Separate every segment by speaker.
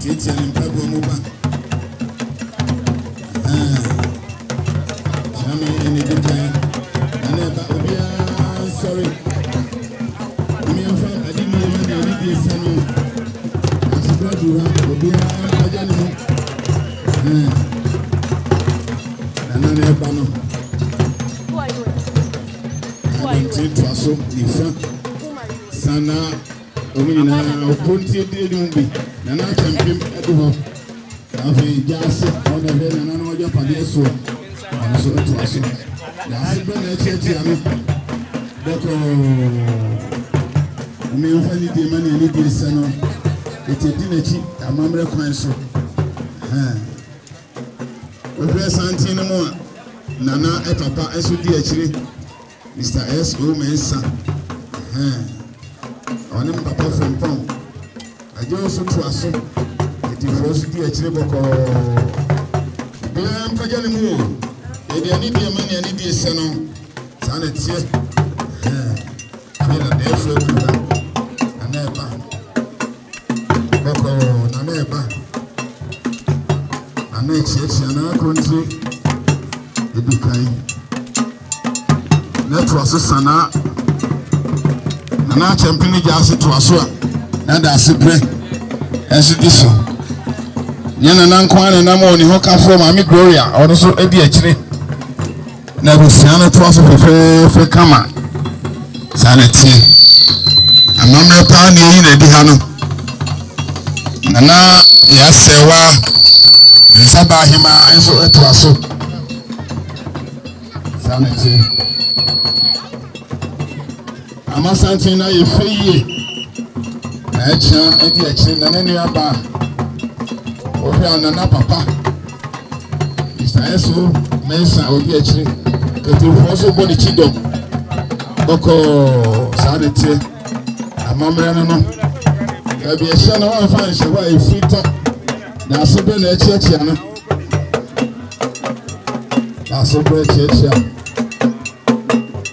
Speaker 1: Tiatia ne mpaboa mu ba. Kyerɛme ɛne di kan. Ɛna ɛba obiara nsɔre. Omiɛmfa ade mmienu na ɛne di esa no. Asopra du ha obiara mpagya ne ho. Nana na ɛba no. Ɛne nti toa so nifa. Sanaa. Wɔn nyinaa ɔpon ti edi edi mu bi nana akyɛmpem ɛdi hɔ na afei gya ase wɔn na ɛbɛ nana na wɔgya padeɛ soɔ wɔn nso ɛto aso na ase bɛ na ɛkyɛ tia no dɛkɔɔ wɔn yɛn fa ni die ma ni ɛni die sɛ no ete di n'akyi amammerɛ kwan so hɛn wɔhwɛ santen no mu a nana ɛpapa ɛso di akyire. Mister S O Mensah ɛhɛn ɔne me papa Frimpong agye wo so toa so Atifoɔ so di akyire bɔkɔɔ Obiara mpagya ne mu o Yɛde anidie ma ne anidie sɛ no Saa na ɛteɛ ɛhɛn Afei na dɛɛfoɔ akuru ha Ɛnɛ ɛba bɔkɔɔ na na ɛba na na ɛkyeakyea na akontire ɛdi kan na ɛtoa so sanaa na na akyɛmpene gya ase toa so a na da ase berɛ ɛnso di so yɛn nana nko ara na nam wɔ ne ho kafoɔ maame gloria ɔno nso di akyire Na abusua no toa so fɛfɛɛfɛ kama. Saa na ɛteɛ. Amammerɛ paa na yɛyi na adi ha no. Na na yɛasɛwa nsaba ahema nso toa so. Saa na ɛteɛ. Amasanten no ayɛ fɛ yie na ɛkyena ɛdi akyire na ne nua ba ɔhwɛ a nana papa isaɛso mɛnsa ɔdi akyire katufoɔ so bɔ ne kyi dɔm bɔkɔɔ saa de teɛ amammerɛ no no baabi ɛhyɛ no wɔmfa nhyɛ hɔ a ɛfiri tɔ na ase bɛ na ɛkyiakyia no na ase bɛ ɛkyiakyia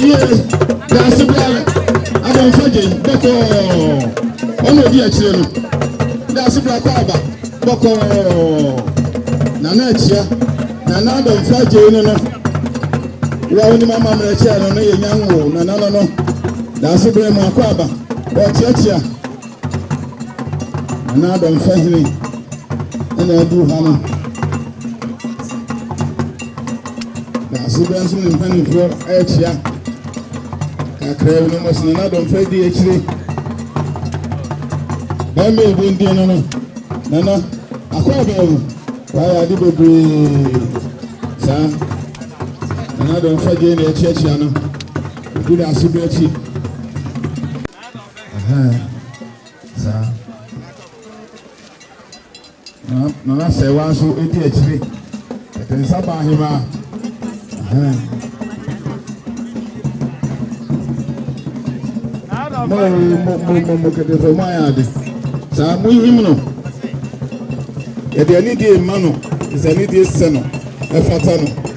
Speaker 1: yie daase bia abɔnfɔ gye bɔkɔɔ ɔna odi akyire no daase bia kɔ aba bɔkɔɔ nana akyia nana abɔnfɔ gye no no wa onim ama mmerɛ kyɛɛ no no yɛ nyanwo nana no no daase bia mu akɔ aba ɔkyeakyea. Nana Adam Fahene ɛna aduru ha no. Na asebɛ nso ne mpanimfoɔ ɛrekyia kakra bi na wɔn asena Nana Adam Fahene di akyire. Bɛn bɛ ebi ndin no no Nana akɔ abɛn mu wayɛ ade bebree saa Nana Adam Fahene na ɛkyiakyia no. Obi na asebɛ akyi. Ɛhɛn, saa. Na Nana Sɛɛwa nso di akyire. Ɛte nsa baa hemaa. Ɛhɛn. Mo mo mo mo mo kedefo mo ayɛ ade. Saa mo nhim no. Yɛde anidie mma no. Yɛsɛ anidie sɛ no. Ɛfata no.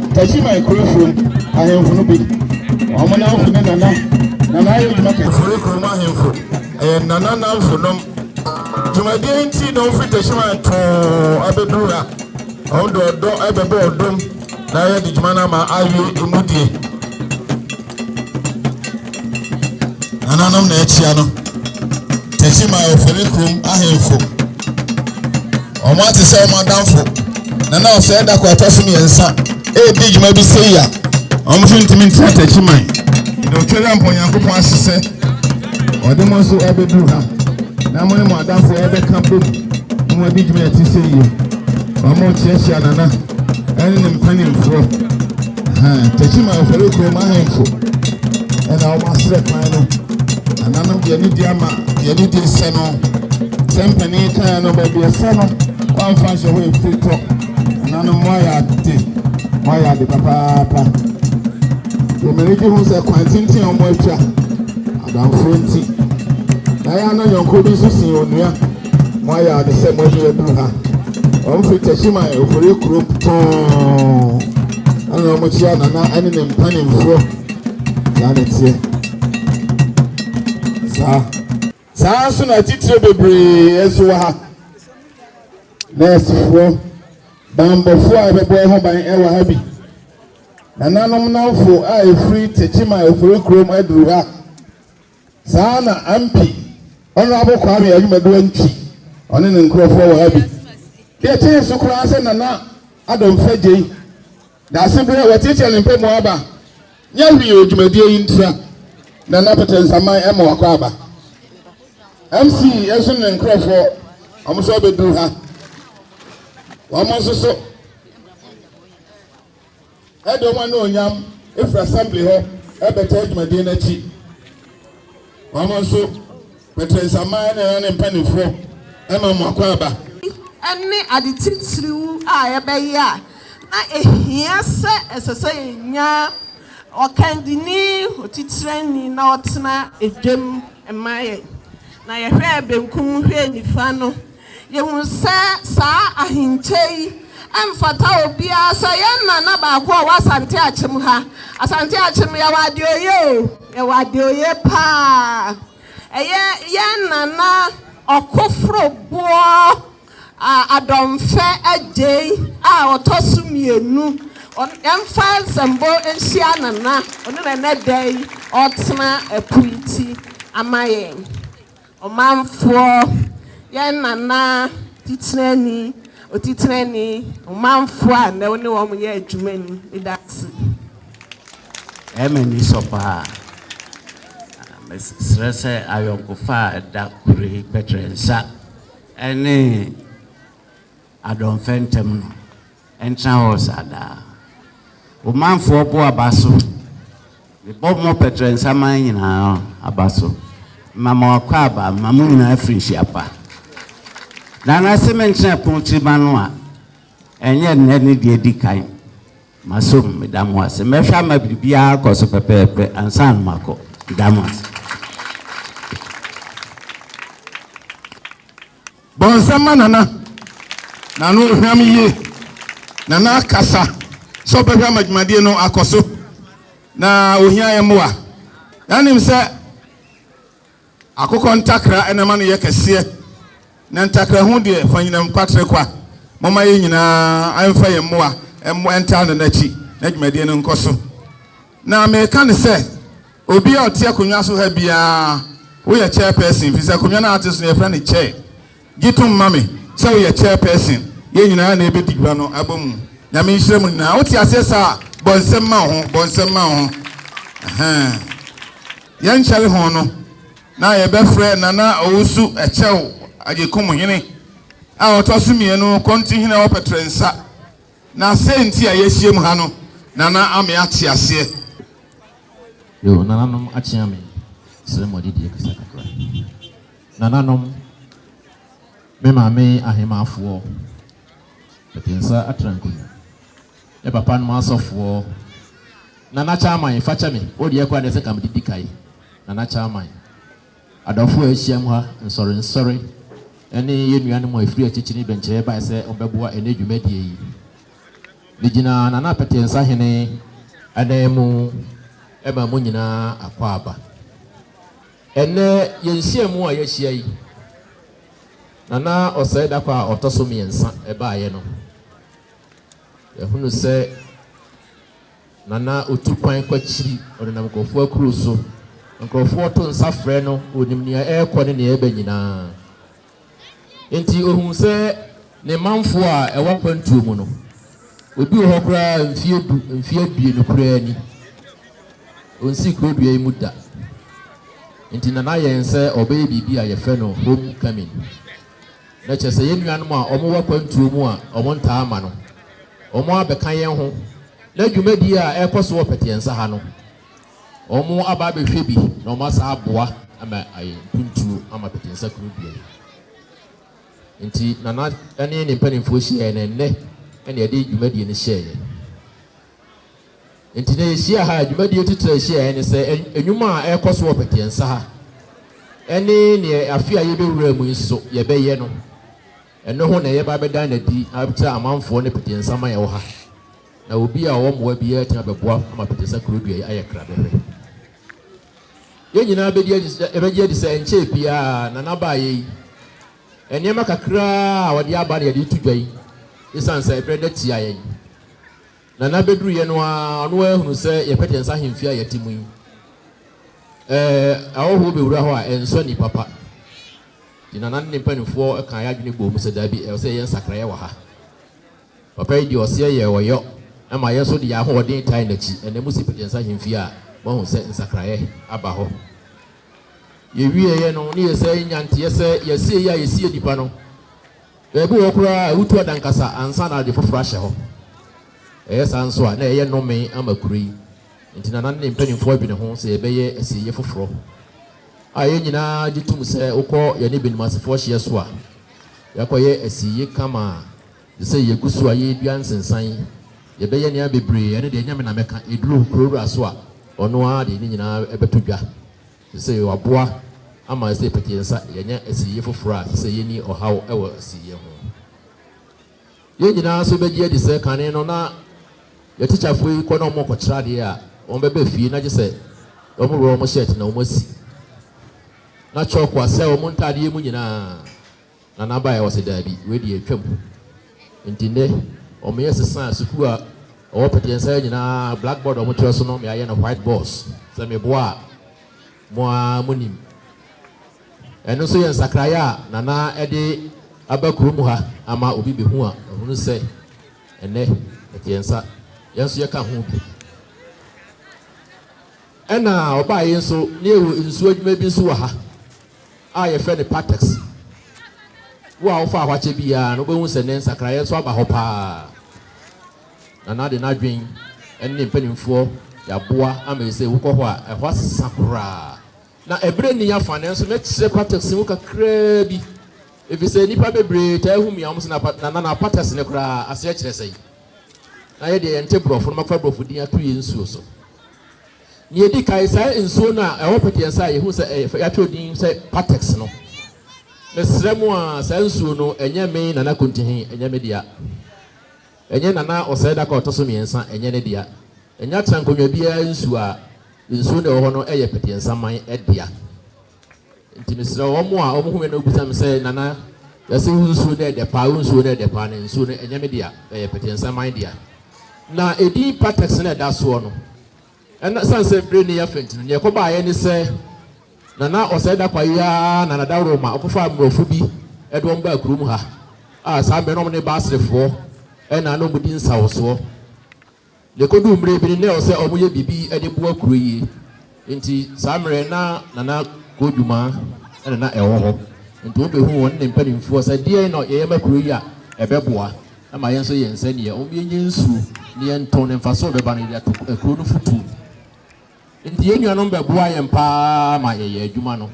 Speaker 1: Tasiman kuro fam ahemfo no bi. Wɔn nanfo ne nana. Nana ayɛ adwuma kɛse. Firi kurom ahemfo ɛyɛ nana nanfo nom. Dwumadie nti na wɔfiri Tasiman too abɛduru ha. Wɔn de ɔdɔ ɛbɛbɔ ɔdom na yɛde dwuma no ama awie emu die. nananom na akyia no tɛkyima ɔfɛre kurom ahemfo wɔn ate sɛ wɔn adamfo na na ɔsɛ da kɔ atɔ so mmiɛnsa ɛredi dwuma bi sɛ yia wɔn nso ntumi ntena tɛkyima yi na ɔtwere mpɔ nyankopɔn ase sɛ ɔde mo nso ɛbɛduru ha na mo ne mo adamfo ɛbɛka bom na wɔn adi dwuma ɛte sɛ yie wɔn kyerɛkyerɛ nana ɛne ne mpanimfoɔ Techiman Afɔre Kurom ahemfo na wɔn asrɛ kwan no. Nananom deɛ ne di ama deɛ ne di nsɛ no. Sɛ mpanin kan no baabi ɛsɛ no wɔamfa nhyɛ hɔ efiri tɔ. Nananom mo ayɛ ade mo ayɛ ade papaapa. Wɔmɛni gye ho sɛ kwan tenten a wɔn atwa adamfoɔ nti. Na yɛn ano yɔnko bi nso sin onua. Moayɛ ade sɛ moatumi aduru ha. Wɔfiri Techiman, Ofori kuro tɔnn na wɔkyia Nana ne ne mpanimfoɔ. Saa na ɛteɛ. Saa. Saa nso na atitire bebree nso wɔ ha. Nɛɛsefoɔ, bammɔfoɔ a ɛbɛbɔ ɛho ban wɔ ha bi. Nananom nnamfo a ɛfiri Techiman, Ofori kurom aduru ha. Saa ara na MP Honourable Kwame Ayumaduwa nti ɔne ne nkorɔfoɔ wɔ ha bi. Deɛ ɛkyɛn so koraa sɛ Nana Addo Mfegyei de aseberɛ watiatia ne mpamu aba nyɛ hwee wɔ dwumadie yi ntira na n'apɛtɛ nsaman ɛma wakɔ aba. MC nso ne ne nkorɔfoɔ wɔn nso abɛduru ha. Wɔn nso so. Ɛde wɔn anuonyam firi assembly hɔ bɛtaa dwumadie no akyi. Wɔn nso, Petro Nsaman na ɛyɛ ne mpanimfoɔ ma wɔn akwaaba. ne
Speaker 2: ade titiriw a ɛbɛyɛ a na ehia sɛ ɛsɛ sɛ yenya ɔkannini, otitrani, na ɔtena edwam ma yɛn. Na yɛhwɛɛ benkum hwɛɛ nifa no, Yehu sɛ saa ahenkyɛ yi mfata obiara. Sɛ ɔyɛ nana baako a ɔwɔ Asante Akyem ha, Asante Akyem yɛwɔ Adeoye o, yɛwɔ Adeoye paa. Ɛyɛ yɛn nana Ɔkoforo Boɔ Adɔmfɛ Agyei a ɔtɔ so mmienu. Yɛmfa nsɛmbɔ nhyia nana, ɔno na ɛnɛ da yi ɔretena apuiti ama yɛn. Ɔmanfoɔ, yɛn Nana Titenani, Otitenani, Ɔmanfoɔ a nnɛ wo ne wɔn yɛ adwuma ni, meda wo ase. Ɛyɛ
Speaker 3: me anisɔ pa ara. Mesrɛ sɛ ayɔnkofa a ɛda Kure Pɛtrɛnsa ne. Adomfɛ ntɛm no, ɛntena hɔ saa daa. Wo manfoɔ bo aba so. Mebɔ mo pɛtrɛnsa man nyinaa aba so. Mema mo akwaaba, mema mo nyinaa afirinhyia pa. Na na se mentena pono tiri ma no a, ɛnyɛ nnɛ ne deɛ di kan. Masom, meda mo ase. Mɛhwɛ ama biribiara akɔ so pɛpɛɛpɛ ansa na makɔ. Meda mo ase.
Speaker 1: Bɔnsam ma Nana. Nana ɔhwam yie. Nana akasa sɛ ɔbɛhwam adwumadie no akɔ so na ɔhia yɛn mmoa. Yɛanim sɛ akokɔ ntakra na ɛma no yɛ kɛseɛ na ntakra ho deɛ fa nyinam kwatre kwa. Momma yɛn nyinaa mfa yɛn mmoa mmɔ ntaa Nana akyi na dwumadie no nkɔ so. Na mereka no sɛ, obi a ɔte akonnwa so ha biara, woyɛ chairperson, efisɛ akonnwa no a ate so no yɛfrɛ no chair. Gye tom ma me sɛ woyɛ chairperson. Yɛn nyinaa na yɛbɛdi dwa no abom. Nyame nhyira mo nyinaa. Wote aseɛ saa? Bɔ nsam ma wo ho, bɔ nsam ma wo ho. Ɛhɛn. Yɛnkyɛre ho no, na yɛbɛfrɛ Nana Owusu Ɛkyɛw Agyekum Hene a ɔtɔ so mmienu, Konti Hene a ɔpɛtrɛ nsa. Na sɛ nti a yɛahyiam ha no, Nana ame ate aseɛ.
Speaker 4: Yoo, Nananom akyea me, srɛ mo adidie kasa kakra. Nananom, me maame ahemaafoɔ, Pete Nsa Atrankoni, me papanom asɔfoɔ, Nana Kyaman, fa kyɛ me, wo deɛ koraa deɛ sɛ nka mede di kae, Nana Kyaman. Adɔfo a wɔahyiam ha nsɔrensɔre ne yɛn nuanom a wɔfiri akyirikyiri dɔnkyɛreɛ baeɛ sɛ wɔbɛboa ɛnnɛ dwumadie yi. Megyina Nana Petee Nsahene ananmu ma mo nyinaa akwaaba. Ɛnnɛ yɛn nhyiamu a yɛahyia yi, Nana Osei Darko a ɔtɔ so mmiɛnsa baeɛ no, yɛahunu sɛ Na na otu kwan kɔ akyiri, ɔnenam nkurɔfoɔ akuro so. Nkurɔfoɔ to nsa frɛ no, ɔnim nea ɛrekɔ ne nea ɛreba nyinaa. Enti ɔhuu sɛ ne manfoɔ a ɛwɔ akwantuo mu no, obi wɔ hɔ koraa mfeɛ du, mfeɛ aduonu koraa ni. Ɔnsii kuro dua yi mu da. Enti na n'ayɛ nsɛ ɔbɛyɛ biribi a yɛfrɛ no home coming. Na kyerɛ sɛ yɛn nuanom a wɔwɔ akwantuo mu a wɔntaa mma no, wɔabɛka yɛn ho, na dwumadie a ɛrekɔ so wɔ Pɛteɛnsa ha no, wɔaba abɛhwɛ bi na wɔasan aboa ama ayɛ mpuntuo ama Pɛteɛnsa kuro dua yi. Nti Nana ne ne mpanimfoɔ hyiaeɛ na ɛnnɛ na yɛde dwumadie no hyɛeɛ. Enti na yɛhyia ha a, dwumadie titire a ɛhyia yɛn ne sɛ nnwuma a ɛrekɔ so wɔ Pɛteɛnsa ha ne neɛ afe a yɛbɛwura mu yi nso yɛbɛyɛ no, ɛno ho na yɛba abɛda no adi akyerɛ amanfoɔ ne Pɛteɛnsa man a ɛwɔ ha. Na obi a ɔwɔ mmoa biara atumi abɛboa ama Pɛteɛnsa kuro dua yi ayɛ krabɛhwɛ. Yɛn nyinaa bɛdi adi sɛ ɛbɛgye adi sɛ ɛnkyɛɛ biara Nana baeɛ yi. Nneɛma kakra a ɔde aba na yɛde reto dwa yi, ɛsiane sɛ ɛberɛ da tia yɛn. Na na bɛduruyɛ no ara ɔno ara hunu sɛ yɛpɛte yɛn nsa ahemfie a yɛte mu yi. Ɛɛ, ahɔhoɔ bɛwura hɔ a, ɛnsɔ ani papa. Nti Nana ne ne mpanimfoɔ kaa yɛn adwene bɔɔ mu sɛ, Dabi, ɛwɔ sɛ yɛyɛ nsakraeɛ wɔ ha. Papa yi deɛ, ɔseɛ yɛɛ ɔyɔ ma yɛn nso de yɛn ahoɔden tae n'akyi. Ɛnnɛ mosi pɛte yɛn nsa ahemfie a, moahu sɛ nsakraeɛ aba hɔ. Yɛwieeɛ no, ne yɛsan nya nteɛ sɛ yɛasieeɛ a yɛsiee nnipa no. Ebi wɔ hɔ koraa a, wotu adankasa ansa na ade foforo ahyɛ hɔ. Ɛyɛ saa nso a, na ɛyɛ nnome ama kuro yi. Enti na na ne mpanimfoɔ dwene ho sɛ yɛbɛyɛ asieeɛ foforo. A Yɛn nyinaa gye tom sɛ wokɔ yɛne Benimasefoɔ hyeɛ so a, yɛakɔyɛ asieeɛ kama te sɛ yɛgu so a yɛredua nsensan, yɛbɛyɛ nneɛma bebree, ɛno deɛ ɛnyɛ me na mɛka, ɛduru kuro wura so a, ɔno ara de ne nyinaa bɛto dwa. Ɛsɛ sɛ wɔaboa ama ɛsɛ sɛ yɛpete yɛn nsa yɛanya asieyɛ foforo a ɛsɛ sɛ yenni ɔhaw wɔ asieyɛ ho. Yɛn nyinaa nso begye adi sɛ kane no na yɛn atikyafo yi kɔ na wɔkɔkyerɛ ade a, wɔbɛba fie na gye sɛ wɔworɔ wɔn hyɛɛt na wɔasi na kyɔɔko asɛe wɔn ntadeɛ mu nyinaa. Nana baeɛ ɔse daabi wei deɛ atwam nti nnɛ wɔyɛ sesa sukuu a ɛwɔ pɛteɛnsaɛ nyinaa black board a wɔtwerɛ so no me ayɛ no white boards sɛ meboa a mo ara mo nim ɛno nso yɛ nsakraeɛ a Nana de aba kurom ha ama obi bɛhu a ahunu sɛ ɛnɛ pɛteɛnsa yɛn nso yɛka ho bi. Ɛna ɔbaeɛ nso na yɛwɔ nsuo adwuma bi nso wɔ ha. a yɛfrɛ no Patex. Wo a wofaa hɔ akyɛ biara no, wobɛhu sɛ nnɛ nsakraeɛ nso aba hɔ pa ara. Nana de n'adwene ne ne mpanimfoɔ de aboa ama yi sɛ wokɔ hɔ a, ɛhɔ asesa koraa. Na ɛberɛ nni afa, nanso mɛkyerɛ Patex mu kakraa bi, ɛfiri sɛ nnipa bebree taa hu me a, wɔn sɛ na, na, na, na Patex no koraa aseɛ kyerɛ sɛn? Na yɛdeɛ yɛnte borɔfo no, mɛfa borɔfo din ato yɛn nsuo so. Nea edi kan, saa nsuo no a ɛwɔ pɛteɛnsa a yɛhu sɛ ɛyɛ fɛ, yɛatwerɛ din sɛ Patex no, mesrɛ mo a, saa nsuo no, ɛnyɛ me Nana Kontihi, ɛnyɛ me dea. Ɛnyɛ Nana Ɔsɛedako a ɔtɔ so mmiɛnsa, ɛnyɛ ne dea. Ɛnyɛ Atenankonnwa biara nsuo a nsuo no a ɛwɔ hɔ no yɛ pɛteɛnsaman dea. Nti mesrɛ wo, wɔn a wɔhu me no bisa me sɛ, Nana, yɛse wo nsuo no yɛ dɛ paa, wo nsuo no yɛ dɛ paa, na nsuo no ɛnyɛ me dea, ɛyɛ Pɛtɛnsaman dea. Na edin Patex na ɛda soɔ no. Ɛna sane sɛ bere no yɛ fɛ nti no, deɛ ɛkɔbaeɛ ne sɛ, na na ɔsɛe da kwa yi ara na na daworo ma ɔkɔfaa mmorɔfo bi de wɔn baa kurom ha, a saa mmerɛ no wɔn ne Basrefoɔ ɛna na wɔdi nsawosoɔ. Na ɛkɔduu mmerɛ bi no, na ɛwɔ sɛ wɔyɛ biribi de boa kuro yi, nti saa mmerɛ na Nana Kodumaa na na ɛwɔ hɔ, nti wɔbɛhuu wɔne ne mpanimfoɔ sɛ deɛn na yɛyɛ ma kuro yi a ɛbɛboa ma yɛn nso yɛn nsa nni yɛ, yɛnyɛ nsuo na yɛntɔn na mfasoɔ a ɛbɛba no yɛde ato kuro no fotuo mu. Nti yɛn nuanom bɛboaa yɛn pa ara ma yɛyɛɛ adwuma no.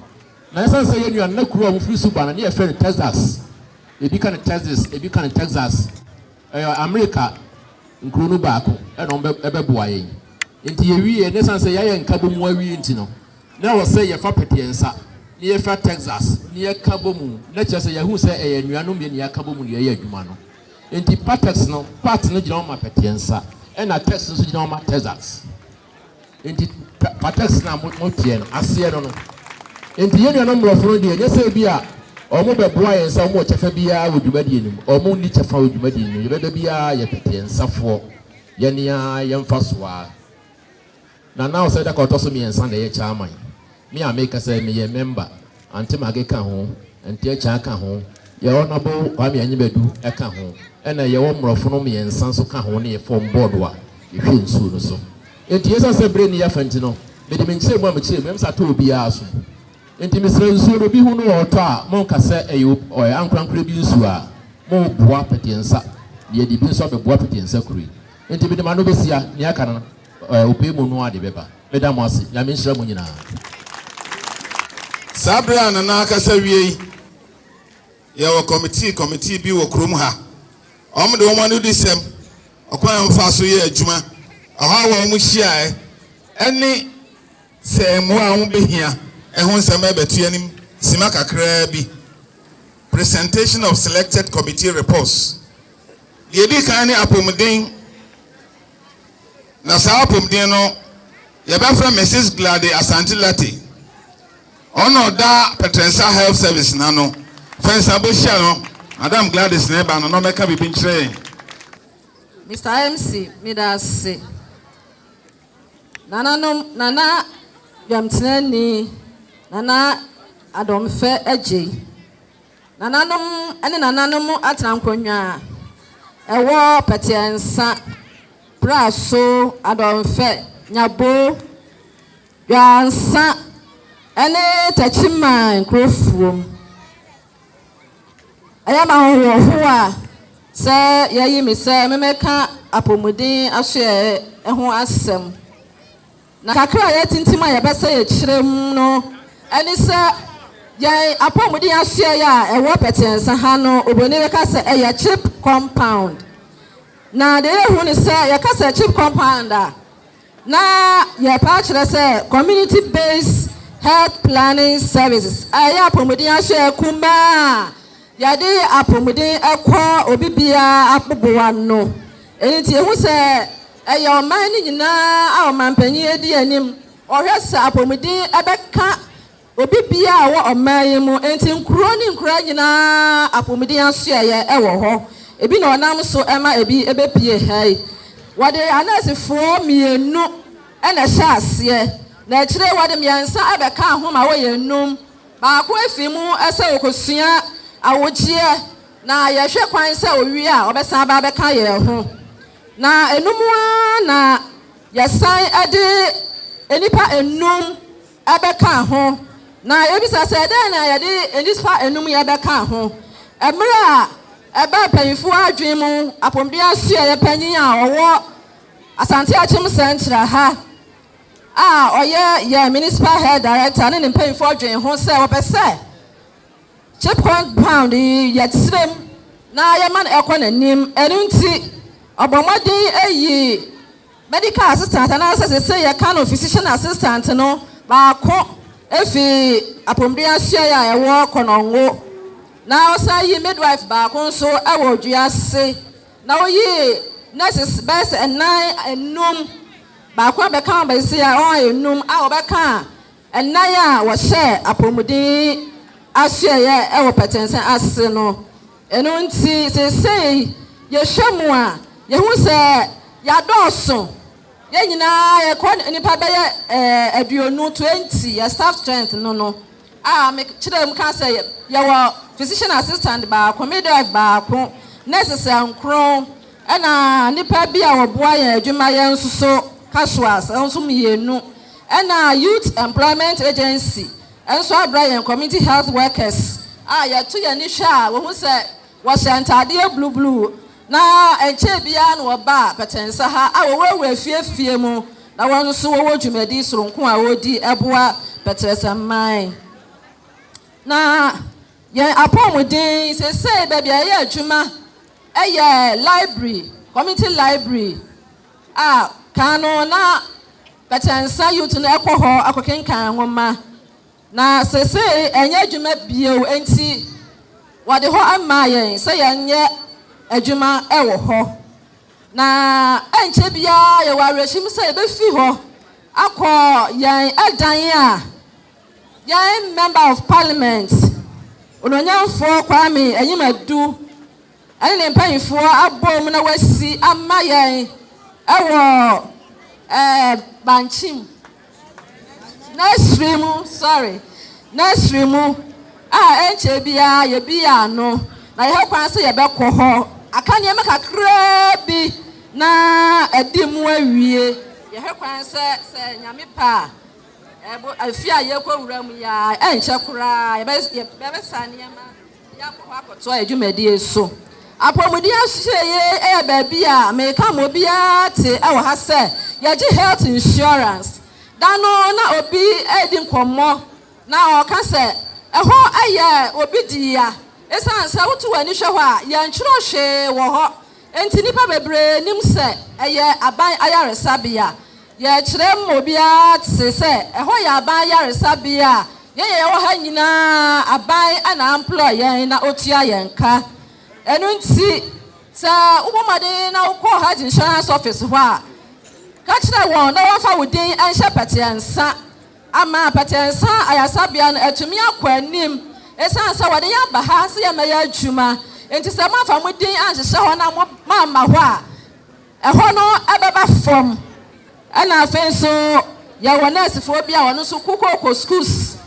Speaker 4: Na ɛsiane sɛ yɛn nuanom, na kuro a wɔfiri so ba no, na yɛfrɛ no Texas, ebi ka no Texas, ebi ka no Texas. Ɛyɛ Amerika nkuro no baako na wɔbɛboa yɛn. Nti yɛwieɛ, na ɛsiane sɛ yɛayɛ nkabɔ mu awie nti no, na ɛwɔ sɛ yɛfa pete yɛn nsa na yɛfira Texas na yɛka bɔ mu, na kyerɛ sɛ yɛahu sɛ ɛyɛ anuanom mmienu na yɛaka bɔ mu na yɛyɛ adwuma no. Nti patex no, pat no gyina hɔ ma pete nsa, ɛna tex nso gyina hɔ ma Texas. Enti pa patex no a mo moteɛ no aseɛ no no. Enti yɛn nuanom mmorɔfo no deɛ, ɛnyɛ sɛ ebi a wɔn bɛboa yɛn sɛ wɔn wɔ kyɛfa biara wɔ dwumadie no mu. Wɔn nni kyɛfa wɔ dwumadie no mu. Yɛbɛba biara yɛ tete yɛn nsa foɔ. Yɛn ara yɛn mfa so ara. Nana Osei Darko a ɔtɔ so mmiɛnsa na ɛyɛ chairman. Me a meka sɛ meyɛ member. Aunty Maggie ka ho, Aunty Akyea ka ho, yɛn Honourable Kwame Anyibadu ka ho, ɛna yɛwɔ mmorɔfo no mmiɛnsa nso ka ho ne yɛ fɔm bɔɔdo a yɛhwɛ nsuo no so. Enti ɛsiane sɛ berɛ nni yɛ afa nti no, mede me nkyerɛmu a mekyerɛ mu no, msa tɔ obiara asom. Enti mesrɛ nsuo no obi hu no a ɔtɔ a, monka sɛ ɛyɛ ɔyɛ ankorankorɛ bi nsuo a, moboa pɛteɛnsa na yɛde bi nso abɛboa pɛteɛnsa kuro yi. Enti mede m'ano bɛsia nea aka no. Eh, opɛ mu noa de bɛba. Meda mo ase. Nyame nhyira mo nyinaa.
Speaker 1: Saa bere a Nana akasa wiei, yɛwɔ kɔmitii kɔmitii bi wɔ kurom ha. Wɔde wɔn anodisɛm, ɔkwan a wɔfaa so yɛɛ adwuma, ɔhaw a wɔhyiae, ne sɛ mmoa a wobehia ho nsɛm rebɛto yɛn anim simma kakraa bi, Presentation of Selected Committee Reports. Nea edi kan ne apɔmuden. na saa apomden no yɛbɛfrɛ Mrs Glade Asante Lartey ɔna ɔda Pɛtrɛnsa Health Service na no fɛnsa bɛhyia no Madam Gladys na ɛba no na ɔmɛka biribi nkyerɛ yɛn
Speaker 2: Mr MC meda ase nananom nana dwamtenani nana adɔmfɛ agyei Nananom ne nananom atena nkonnwa a ɛwɔ pɛtɛɛ nsa, praso, adɔnfɛ, nyabo, dwansa ne takyiman nkurofoɔ mu. Ɛyɛ me ahohoahoa sɛ yɛayi me sɛ memmɛka apɔmuden asoɛeɛ ho asɛm. Na kakra a yɛatintim a yɛbɛsɛ yɛkyerɛ mu no ne sɛ yɛn apɔmuden asoɛe a ɛwɔ pɛtɛɛnsa ha no, oburoni bɛka sɛ ɛyɛ chip compound. Na deɛ yɛhu ne sɛ yɛka sɛ chip compound a, na yɛpɛ akyerɛ sɛ community based health planning services a ɛyɛ apɔmuden asoɛe kumaa a yɛde apɔmuden kɔ obi biara aboboa no. Ɛno nti yɛhu sɛ. Ɛyɛ ɔman no nyinaa a ɔmampanyin adi anim. Ɔhwɛ sɛ apɔmuden bɛka obi biara a ɔwɔ ɔman yi mu. Enti nkurow ne nkuraa nyinaa apɔmuden asoɛeɛ wɔ hɔ. Ebi na ɔnam so ma ebi bɛpue ha yi. Wɔde anɛɛsefoɔ mmienu na ɛhyɛɛ aseɛ, na akyire yi wɔde mmiɛnsa bɛkaa ho ma wɔyɛ nnum. Baako afi mu sɛ ɔrekɔsua awogyeɛ, na yɛhwɛ kwan sɛ ɔwie a ɔbɛsan aba abɛka yɛn ho. Na ɛno mu ara na yɛsan de nnipa nnum bɛkaa ho. Na yɛbisa sɛ, dɛn na yɛde nnipa nnum yi bɛkaa ho? Mmerɛ a ɛbaa mpanyimfoɔ adwene mu, Apomdua Sueɛ panyin a ɔwɔ Asante Akyem Central ha a ɔyɛ yɛn Municipal Health Director ne ne mpanyimfoɔ dwee ho sɛ wɔpɛ sɛ, Chip compound yi yɛ kyerɛm na yɛma no kɔ n'anim, ɛno nti ɔbɔ mmɔden yi medical assistant anaasɛ sese yɛka no physician assistant no baako fi apɔmuden asuaeɛ a ɛwɔ Konongo na ɔsan yi midwife baako nso wɔ Odua ase na woyi nurses bɛyɛ sɛ ɛnan enum baako abɛka wɔn bɛsi a wɔn ayɛ enum a wɔbɛka Nnan a wɔhyɛɛ apɔmuden asoɛeɛ wɔ pɛtɛɛsɛn ase no. Ɛno nti, seesei yɛhwɛ mu a, yɛhu sɛ yɛadɔɔso. Yɛn nyinaa yɛkɔ nnipa bɛyɛ aduonu, 20, yɛ staff strength no no, a mekyerɛ mu ka sɛ yɛwɔ physician assistant baako, midwife baako, nurses nkron, ɛnna nnipa bi a wɔboa yɛn adwuma yɛn nso so casuals nso mmienu. Ɛna Youth Employment Agency nso abrɛ yɛn Community Health Workers a yɛto yɛn ani hwɛ a wohu sɛ wɔhyɛ ntadeɛ blue blue na ɛnkyɛɛ biara na wɔbaa Pɛtɛnsa ha a wɔwurawura afie afie mu na wɔn nso wɔwɔ dwumadi soronko a wɔdi boa Pɛtrɛsɛ man na yɛn apɔmuden sesei baabi a yɛyɛ adwuma ɛyɛ library, community library a kan no na Kɛtɛnsa Youth no kɔ hɔ kɔkenkan nwoma, na seesei ɛnyɛ adwuma bio, enti wɔde hɔ maa yɛn sɛ yɛnyɛ adwuma wɔ hɔ. Na ɛnkyɛ biara yɛwɔ awerɛhyem sɛ yɛbɛfi hɔ akɔ yɛn dan a yɛn Member of Parliament, Onuonyamfoɔ Kwame Anyim Adu, ɛne ne mpaninfoɔ abom na wasi ama yɛn wɔ bankye mu, nursery mu, sorry, nursery mu a ɛnkyɛ biara yɛbia ano na yɛhɛ kwan sɛ yɛbɛkɔ hɔ aka nneɛma kakraa bi na adi mu awie. Yɛhɛ kwan sɛ sɛ nyame pɛ a ɛbo afie a yɛkɔ wura mu yɛ a ɛnkyɛ koraa yɛbɛsa nneɛma. Yɛakɔ hɔ akɔtoa yɛn dwumadie so. Apɔmuden Ahyiaeɛ yɛ baabi a meka ma obiara te wɔ ha sɛ yɛgye health insurance. Da no na obi redi nkɔmmɔ na ɔreka sɛ ɛhɔ yɛ obi dea ɛsiane sɛ woto w'ani hwɛ hɔ a yɛntwerɛ hwee wɔ hɔ nti nnipa bebree nnim sɛ ɛyɛ aban ayaresabea. Yɛkyerɛ ma obiara te sɛ ɛhɔ yɛ aban yaresabea a yɛn a yɛwɔ ha nyinaa aban na amploy yɛn na otua yɛn ka. Ɛno nti sɛ wobɔ mmɔden na wokɔ Health Insurance Office hɔ a, ka kyerɛ wɔn na wɔmfa wo din nhyɛ pɛtɛɛ nsa ama pɛtɛɛ nsa ayasabea no atumi akɔ anim ɛsiane sɛ wɔde yɛn aba ha sɛ yɛmmɛyɛ adwuma nti sɛ moamfa mo din anhyehyɛ hɔ na moamma hɔ a, Ɛhɔ no bɛba fam. Ɛna afei nso yɛwɔ nɛɛsefoɔ bi a wɔn nso kokooko schools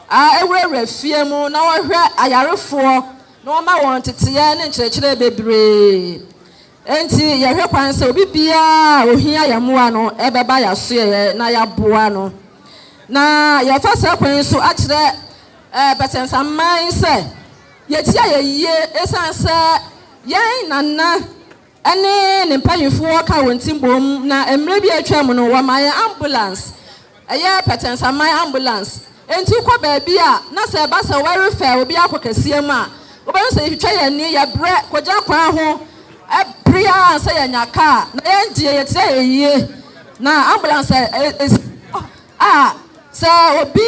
Speaker 2: a ɛwurawura fie mu na wɔhwɛ ayarefoɔ na wɔma wɔn nteteɛ ne nkyerɛkyerɛ bebree. Enti yɛhwɛ kwan sɛ obi biara a ohia yɛn mmoa no bɛba yɛn asoɛeɛ na yɛaboa no. Na yɛfa saa kwan yi so akyerɛ eh, Bɛsɛnsaman sɛ yɛtia yɛ yie ɛsiane sɛ yɛn nana ne ne mpanimfoɔ ka wɔn ti boom na mmerɛ bi a atwam no wɔmaa yɛn ambulance, ɛyɛ Pɛtɛnsaman ambulance, enti wokɔ baabi a na sɛ ɛba sɛ wɔrefa obi akɔ kaseɛm a wobɛhu sɛ yɛtwitwa yɛn ani, yɛbrɛ kɔgyina kwan ho bere ara ansa yɛanya car na yɛn deɛ yɛtena ayie na ambulance a ɛsi hɔ. A, Sɛ obi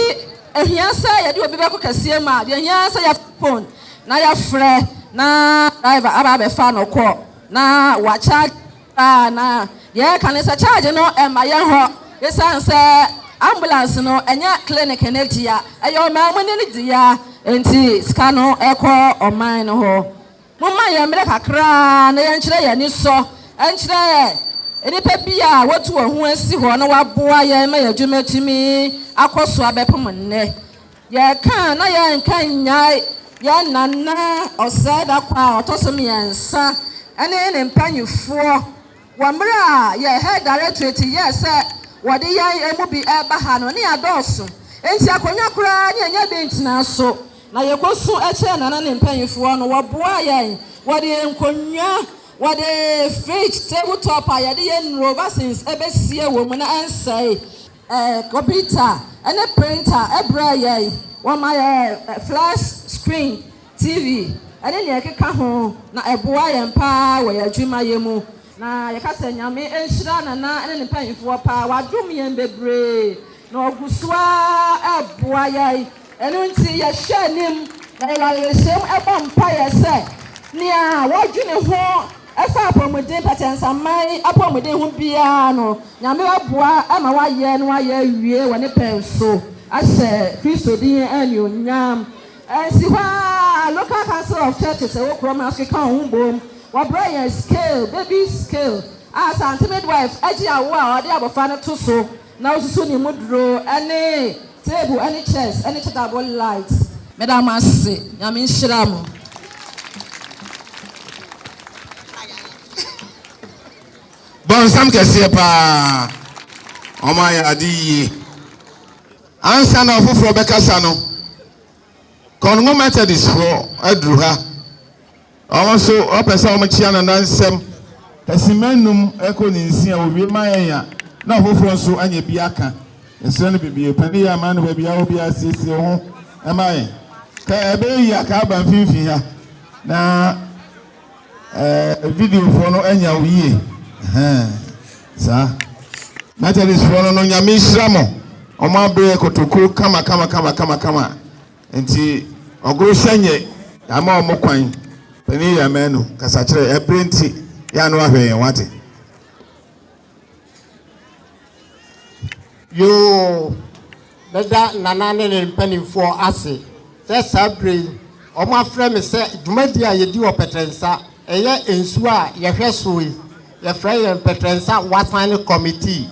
Speaker 2: hia sɛ yɛde obi bɛkɔ kɛseɛ mu a, deɛ ɛhia ara sɛ yɛfa fon na yɛfrɛ na driver aba abɛfa no kɔ na wɔakyagye koraa na deɛ ɛka ne sɛ kyagye no mma yɛn hɔ ɛsiane sɛ ambulance no ɛnyɛ clinic no dea, ɛyɛ ɔman mu no dea nti sika no kɔ ɔman no hɔ. Momma yɛn mmerɛ kakra na yɛnkyerɛ yɛn anisɔ nkyerɛ nnipa bi a wɔatu wɔn ho asi hɔ na wɔaboa yɛn ma yɛn adwuma atumi akɔ so abɛpem nnɛ. Yɛreka a, na yɛrenka nnyae yɛn Nana Ɔsɛe Dakwaa a ɔtɔ so mmiɛnsa ne ne mpanimfoɔ. Wɔ mmerɛ a yɛn Head Directorate yɛɛ sɛ wɔde yɛn ɛmu bi reba ha no, na yɛadɔɔso, enti akonnwa koraa na yɛnnya bi ntenaa so, na yɛkɔsu kyerɛɛ Nana ne mpaninfoɔ no, wɔboaa yɛn, wɔde yɛn nkonnwa, wɔde fridge, table top a yɛde yɛn nnuro, vaccines, bɛsie wɔ mu na ɛnsɛe, kɔmputa ne printer brɛɛ yɛn, wɔmaa yɛn flash screen, TV, ne nea ɛkeka ho, na ɛboa yɛn paa wɔ yɛn adwumayɛ mu. Na yɛka sɛ Nyame nhyira Nana ne ne mpaninfoɔ paa, wɔadom yɛn bebree na wɔgu so ara reboa yɛn, ɛno nti yɛhwɛ anim. Na yɛwɔ awerɛhyɛm bɔ mpaeɛ sɛ nea wɔdwene ho fa apɔmuden, pɛkyɛnsaman apɔmuden ho biara no, Nyame aboa ma wɔayɛ na wɔayɛ awie wɔ ne pɛn so, ahyɛ Kristo din anuonyam. Ɛnsi hɔ ara, Local Council of Churches a ɛwɔ kurom no nso keka wɔn ho boom. Wɔbrɛɛ yɛn scale, baby scale, a Asante midwife gye awo a ɔde abofra no to so na osusu ne mu duro, ne table ne chairs ne chargeable lights. Meda mo ase. Nyame nhyira mo.
Speaker 1: Bɔnsam kɛseɛ paa. Wɔn ayɛ ade yie. Ansa na ɔfoforɔ bɛkasa no, Kɔngo Methodistfoɔ aduru ha. Wɔn nso wɔpɛ sɛ wɔkyea Nana nsɛm. Simma nnum rekɔ ne nsia, wɔwie ma yɛn a, na ɔfoforɔ nso anya bi aka. Yɛsrɛ no bebie, pɛ ne yɛ ama no baabi a ɔwɔ biara siesie wo ho ma yɛn. Ka ɛbɛyɛ yie a, ka ba mfimfini ha na. Ɛɛ video foɔ no anya wo yie ɛhɛn saa Methodist foɔ no no nyame nhyira mo ɔmo abrɛ kotoku kama kama kama kama kama nti ɔgoro hyɛ nyɛ yɛama ɔmo kwan panin yɛ amanu kasakyerɛ ɛbrɛ nti yɛ ano ahwɛ yɛn wate. Yoo,
Speaker 5: mɛda Nana ne ne mpanimfoɔ ase sɛ saa berɛ yi wɔafrɛ me sɛ dwumadie a yɛdi wɔ Pɛtrɛnsa, ɛyɛ nsuo a yɛhwɛ so yi, yɛfrɛ yɛn Pɛtrɛnsa Wasan Committee.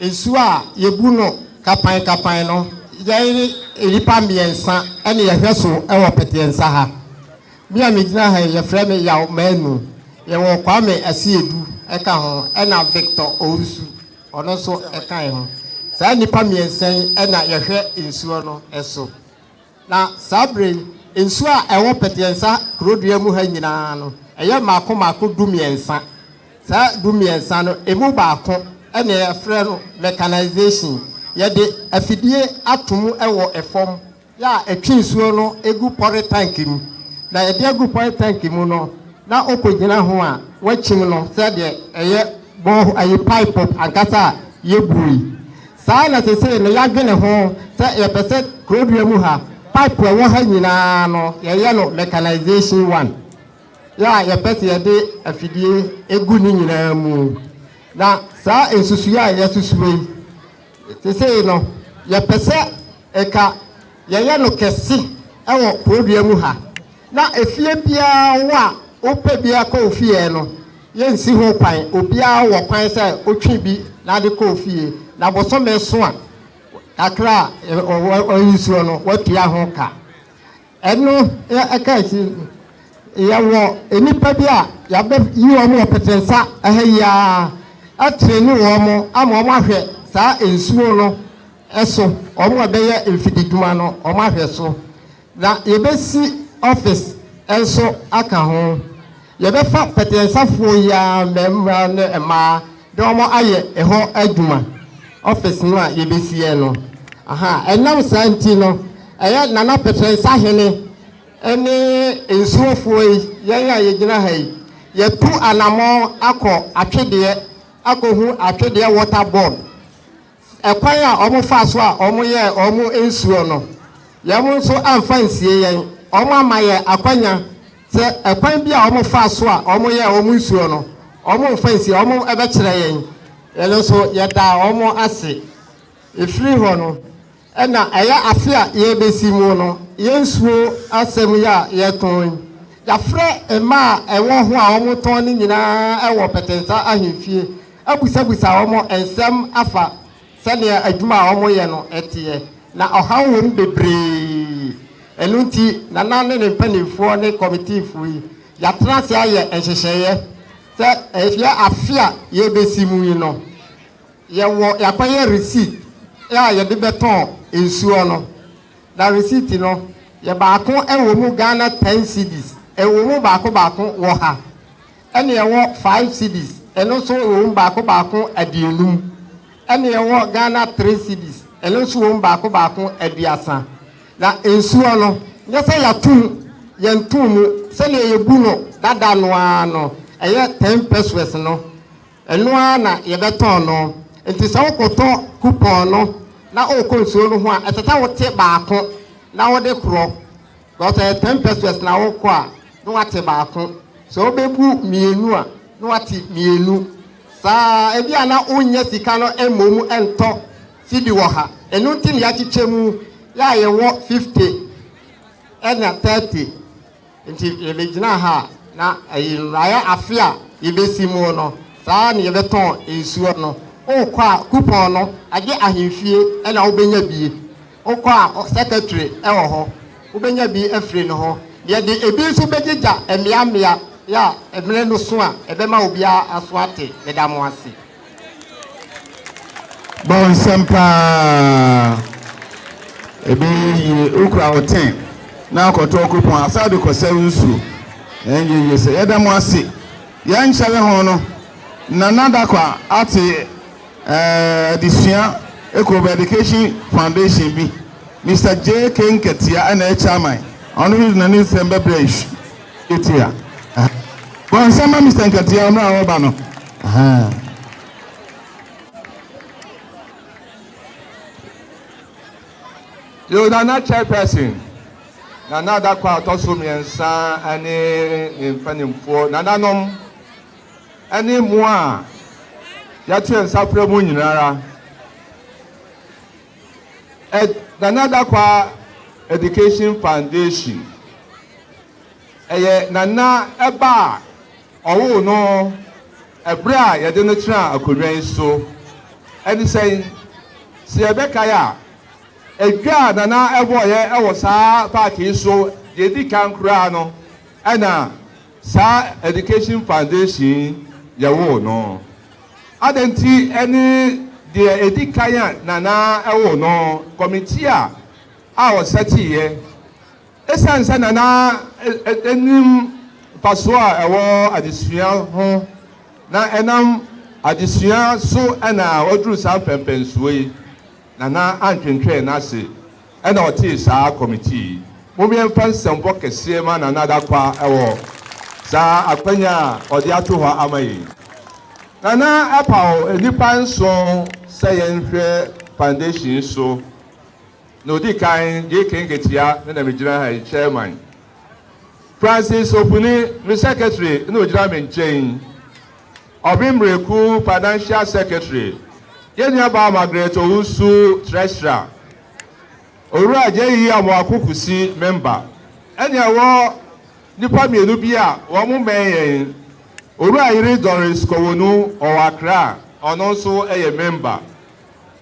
Speaker 5: Nsuo a yɛbu no kapan kapan no, yɛn nnipa mmiɛnsa na yɛhwɛ so wɔ Pɛtrɛnsa ha. Me a megyina ha yi, wɔfrɛ me Yaw Manu. Yɛwɔ Kwame Asiedu ka ho, ɛnna Victor Owusu, ɔno nso ka yɛn ho. Saa nnipa mmiɛnsa yi na yɛhwɛ nsuo no so. Na saa berɛ yi, nsuo a ɛwɔ Pɛteɛnsa kurodua mu ha nyinaa no, ɛyɛ mmaako mmaako du mmiɛnsa. Saa du mmiɛnsa no, ɛmu baako na yɛfrɛ no mechanization. Yɛde afidie ato mu wɔ fam. yɛ a ɛtwe nsuo no gu pɔre tank mu na yɛde agu pɔre tank mu no na ɔkɔgyina ho a wakyim no sɛdeɛ ɛyɛ bore ayi pipe ankasa a yɛbuo yi. Saa na sesei no yɛadwene ho sɛ yɛpɛ sɛ Kurodua mu ha pipe a ɛwɔ ha nyinaa no yɛyɛ no mechanization one yɛ a yɛpɛ sɛ yɛde afidie gu ne nyinaa mu na saa nsusuiɛ a yɛasusuo yi Sesei no, yɛpɛ sɛ nka yɛyɛ no kɛse wɔ Kurodua mu ha, na efie biara wo a wopɛ bi kɔ wo fie no, yɛnsi ho kwan. Obiara wɔ kwan sɛ otwe bi na de kɔ wo fie, na bosome so a kakra a wɔyi soɔ no, woatua ho ka. Ɛno yɛ ɛka akyi no, yɛwɔ nnipa bi a yɛabɛyi wɔn wɔ Petensa ha yi ara atreni wɔn ama wɔn ahwɛ saa nsuo no so, wɔn a ɛbɛyɛ mfididwuma no wɔn ahwɛ so. Na yɛbɛsi office nso aka ho. Yɛbɛfa pɛtɛɛsafoɔ yi ara mmarima ne mmaa de wɔn ayɛ ɛhɔ adwuma, office no a yɛbɛsiɛ no. Ahaa, ɛnam saa nti no, ɛyɛ Nana Pɛtɛɛsa Hene ne Nsuofoɔ yi, yɛn a yɛgyina ha yi, yɛatu anammɔn akɔ Atwedeɛ akɔhu Atwedeɛ Water Board. Ɛkwan a wɔfaa so a wɔyɛɛ wɔn nsuo no, yɛn nso amfa ansie yɛn. Wɔama yɛn akwanya sɛ ɛkwan bi a wɔfaa so a wɔyɛɛ wɔn nsuo no, wɔmfa nsie, wɔbɛkyerɛ yɛn. Yɛn nso yɛdaa wɔn ase. Ɛfiri hɔ no. Ɛna ɛyɛ ase a yɛrebɛsi mu no, yɛn nsuo asɛm yi a yɛretɔn yi, yɛafrɛ mmaa a ɛwɔ ho a wɔtɔn no nyinaa wɔ Pɛtɛnsa Ahemfie abusabusa wɔn nsɛm afa sɛdeɛ adwuma a wɔyɛ no teɛ, na ɔhaw wɔ mu bebree. Ɛno nti, Nana ne ne mpanimfoɔ ne kɔmitiifoɔ yi, yɛatena ase ayɛ nhyehyɛeɛ sɛ ɛyɛ afe a yɛrebɛsi mu yi no, Yɛwɔ yɛakɔyɛ receipt a yɛde bɛtɔn nsuo no na receipt no yɛ baako wɔ mu Ghana ten cedis ɛwɔ mu baako baako wɔ ha ɛna ɛwɔ five cedis ɛno nso ɛwɔ mu baako baako aduonum ɛna ɛwɔ Ghana three cedis ɛno nso wɔ mu baako baako aduasa na nsuo no nyɛ sɛ yɛatum yɛntum mu sɛdeɛ yɛbu no dada no ara no ɛyɛ ten pesewas no Ɛno ara na yɛbɛtɔn no. Enti sɛ wokɔtɔ kupɔn no na wokɔ nsuo no ho a, ɛsɛ sɛ wote baako na wode korɔ. Because sɛ ɛyɛ ten pesewas na wokɔ a, na woate baako. Sɛ wobɛbu mmienu a, na woate mmienu. Saa ara, ebi a na wonnya sika no mmom ntɔ sidi wɔ ha. Ɛno nti na yɛakyekyɛ mu, yɛ a yɛwɔ fifty ɛna thirty. Nti yɛbɛgyina ha na ayi mmraeɛ afe a yɛbɛsi mu no, saa ara na yɛbɛtɔn nsuo no. Wokɔ a coupon no, agye ahemfie na wobɛnya bi. Wokɔ a secretary wɔ hɔ, wobɛnya bi afiri ne hɔ. Yɛde ɛbi nso bɛgyegya mmea mmea, yɛ a mmerɛ no so a ɛbɛma obiara aso ate. Meda mo ase.
Speaker 1: Bɔ nsɛm paa. Ɛbɛyɛ yie. Wokura wo ten na akɔtɔ kupɔn asa de kɔsɛe wo nsuo. Ɛnyɛ yie sɛ. Yɛda mo ase. Yɛn nkyɛre ho no, Nana Dakwa ate eh, adesua Ekobo Education Foundation bi. Mister JK Nkatia ɛna ɛyɛ chairman. Ɔno nso de n'ani nsɛm bɛbrɛ yɛn. Bɔ nsɛm ma Mister Nkatia mmerɛ a ɔreba no.
Speaker 6: Yo Nana Chairperson, Nana Adako a ɔtɔ so mmiɛnsa ne ne mpanimfoɔ nananom ne mo a yɛato yɛn nsa frɛ mo nyinara. Nana Adako Education Foundation ɛyɛ Nana ɛba a Wɔwoo no bere a yɛde no tenaa akonnwa yi so. Ɛne sɛn? Sɛ yɛbɛkae a, edwa a Nana bɔeɛ wɔ saa paake yi so deɛ ɛdi kan koraa no, ɛna saa Education Foundation yi yɛwoo no. Adɛn nti ne deɛ ɛdi kan a Nana woo no? Kɔmitia a wɔsɛteeɛ. Esiane sɛ na na enim mfaso a ɛwɔ adesua ho na ɛnam adesua so na waduru saa mpɛnpɛnsoɔ yi, Nana antwentwɛn n'ase na ɔtee saa kɔmitii yi. Mom yɛmfa nsɛmfɔ kɛseɛ mma Nana Dakwa wɔ saa akwanya a ɔde ato hɔ ama yɛn yi. Nana paw nnipa nson sɛ yɛnhwɛ foundation yi so. Na odi kan gye kenketia no na migyina ha yi, Chairman. Francis Opuni, me secretary, na ogyina me nkyɛn yi. Ɔbe Mmereku, financial secretary. Yɛn nuabaa Margaret Owusu, treasurer. Owura J.E. Amoako Kusi, member. Ɛne ɛwɔ nnipa mmienu bi a wɔn mmɛn yɛn. Owura Ayiri Doris Kowonu, ɔwɔ Accra, ɔno nso yɛ member.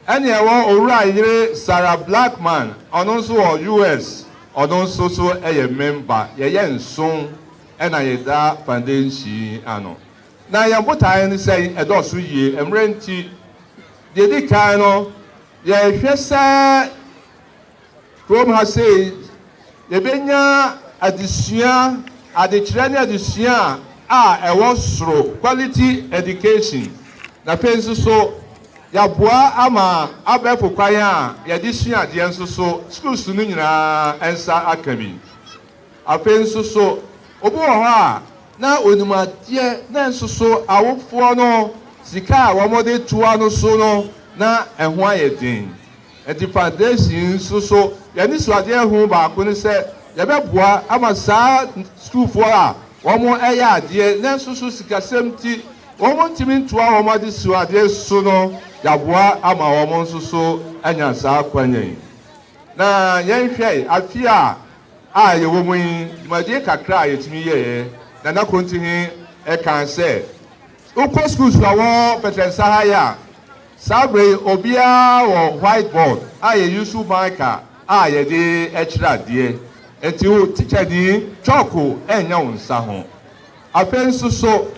Speaker 6: Ɛne ɛwɔ Owura Yere Sarah Blackman, ɔno nso wɔ US, ɔno nso so yɛ member, yɛyɛ nson na yɛda foundation yi ano. Na yɛn botaeɛ ne sɛ ɛdɔɔso yie, mmerɛ nti, deɛ ɛdi kan no yɛhwɛ sɛ, Kurom ha sei, yɛbɛnya adesua, adekyerɛ ne adesua a ɛwɔ soro, quality education, na afei nso so yɛaboa ama abɛɛfo kwan a yɛde sua adeɛ nso so schools no nyinaa nsa aka bi. Afei nso so, obi wɔ hɔ a na onim adeɛ na nso so awofoɔ no sika a wɔde toa no so no na ɛho ayɛ den. Ɛdepadeesi nso so, yɛn anisoadeɛ ho baako ne sɛ yɛbɛboa ama saa sukuufoɔ a wɔyɛ adeɛ nanso so sikasɛm nti wɔntumi ntoa wɔn adesuadeɛ so no, yɛaboa ama wɔn nso so anya saa akwanya yi. Na yɛnhwɛ afe a a yɛwɔ mu yi, dwumadie kakra a yɛtumi yɛeɛ, Nana Kontihe kaa sɛ, wokɔ sukuusu a wɔ Pɛtɛnsa ha yi a, Saa bere yi obiara wɔ whiteboard a yeyisu marker a yɛde kyerɛ adeɛ, enti wo tikyani kyɔɔko renyɛ wo nsa ho. Afei nso so,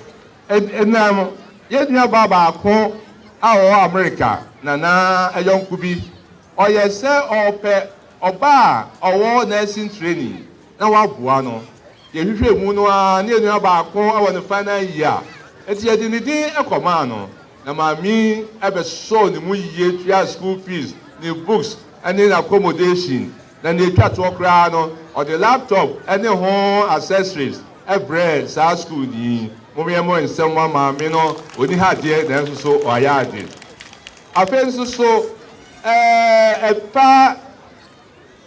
Speaker 6: ɛdenam yɛn nuabaa baako a ɔwɔ Amerika nana yɔnko bi, ɔyɛ sɛ ɔrepɛ ɔba a ɔwɔ nursing training na waboa no. Yɛhwehwɛɛ mu no ara na yɛn nua baako wɔ ne final year, enti yɛde ne din kɔmaa no. na maame yi bɛsɔɔ ne mu yiye tuaa school fees, ne books ne n'accommodation, na nea etwa toɔ koraa no, ɔde laptop ne ho accessories brɛɛ saa sukuuni yi. Mommyɛmmɔ nsɛm mma maame no, onni ha deɛ nanso so wayɛ ade. Afei nso so, eh, ɛfa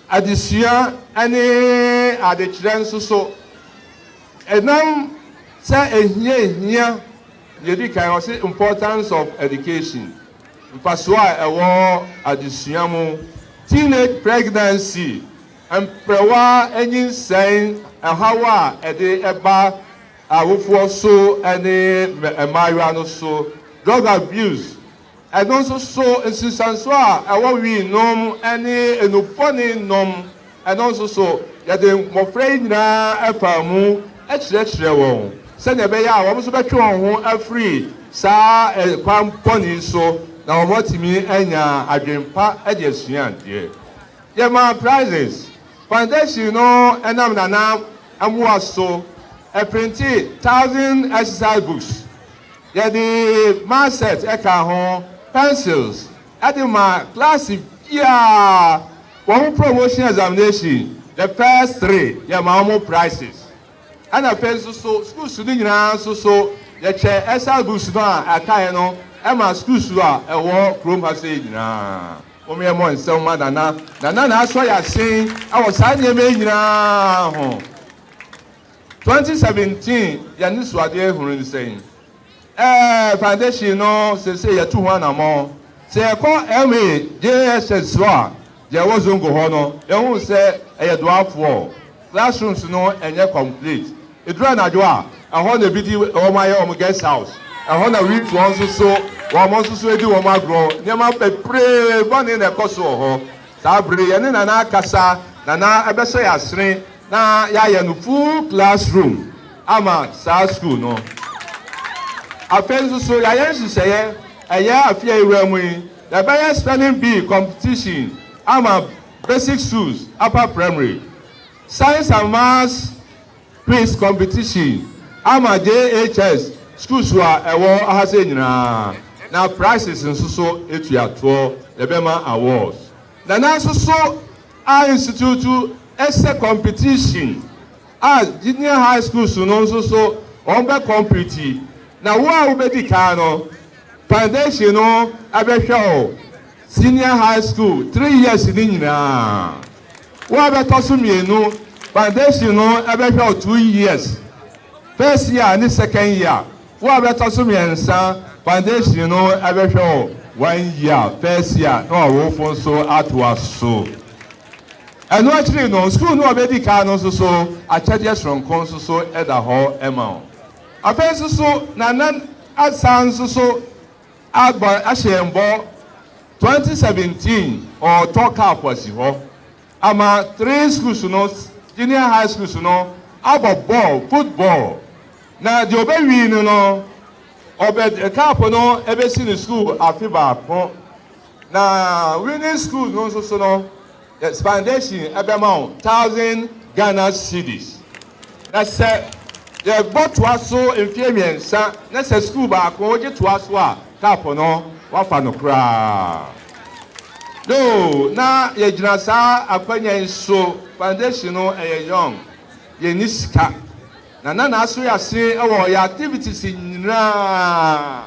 Speaker 6: adesua ne adekyerɛ nso so, ɛnam sɛ ehia ehia Deɛ ɛdi kan, ɔse importance of education, mfasoɔ a ɛwɔ adesua mu, teenage pregnancy, mprɛwa nyinsɛn, ɛhaw a ɛde ɛba awofoɔ so ne mmaayewa no so, drug abuse, Ɛno nso so, nsunsuansoɔ a ɛwɔ wii nom ne nnubɔne nom, ɛno nso so, yɛde mmɔfra yi nyinaa faa mu kyerɛkyerɛɛ wɔn sɛdeɛ ɛbɛyɛ a wɔn nso bɛtwe wɔn ho afiri saa ɛkwan bɔne yi so na wɔatumi anya adwene pa de asua adeɛ. Yɛmaa prizes. Foundation no nam Nana mmoa so printe thousand exercise books. Yɛde Marset kaa ho, pencils, de ma klaase biara wɔn promotion examination, the first three yɛma wɔn prices. Ɛna afei nso so schools no nyinaa nso so yɛkyɛ exercise books no a ɛkaeɛ no ma schools a ɛwɔ kurom ha sei nyinaa. Mom yɛmmɔ nsɛm ma Nana. Nana na asɔ yɛn asen wɔ saa nneɛma yi nyinaa ho. Twenty seventeen y'anisoadeɛ ahunu ne sɛn? Ɛɛ foundation no sesei yɛtu ho anamɔn. Sɛ yɛkɔ MA, JSS hɔ a, deɛ ɛwɔ Zongo hɔ no yɛhu sɛ ɛyɛ doafoɔ. Classrooms no ɛnyɛ complete. Ɛduru anadwo a, ɛhɔ na ebi di wɔn ayɛ wɔn guest house. Ɛhɔ na wiifoɔ nso so wɔn nso so di wɔn agorɔ. Nneɛma bebree bɔne na ɛkɔ so wɔ hɔ. Saa bere no yɛne Nana akasa na na ɛbɛhyɛ yɛn asene na yɛayɛ no full class room ama saa sukuu no. Afei nso so yɛayɛ nhyehyɛeɛ ɛyɛ afe a ɛwura mu yi yɛbɛyɛ spelling bee competition ama basic schools, upper primary, science and maths, Quiz competition ama JHS schools a ɛwɔ ha sɛ nyinaa na prices nso so etua toɔ yɛbɛma awards na nanso so a institute ɛsɛ competition a junior high schools no nso so wɔn bɛ compete na wo a wobɛdi kan no foundation no ɛbɛhwɛ o. Senior High School three years no nyinaa. Wo a bɛtɔ so mmienu, foundation no bɛhwɛ wo two years, first year ne second year. Wo a bɛtɔ so mmiɛnsa, foundation no bɛhwɛ wo one year, first year na ɔwofo nso atoa so. Ɛno akyiri no, sukuu no a ɔbɛdi kan no nso so, akyɛdeɛ soronko nso so da hɔ ma wo. Afei nso so, Nana asan nso so Agba ahyɛ yɛn bɔ twenty seventeen ɔɔtɔ car fo asi hɔ ama three schools no junior high schools no abɔ bɔɔl foot bɔɔl na deɛ ɔbɛ wii no no ɔbɛ car fo no ɛbɛ si no school afe baako na winning school no nso so no The foundation ɛbɛma wo thousand Ghana cedis. Na sɛ yɛbɔ toa so mfeɛ mmiɛnsa na sɛ sukuu baako wogye toa so a, cup no woafa no koraa. No, na yɛgyina saa akwanya yi so, foundation no ɛyɛ young, yɛnni sika. Na na n'asoease wɔ yɛn activities nyinaa.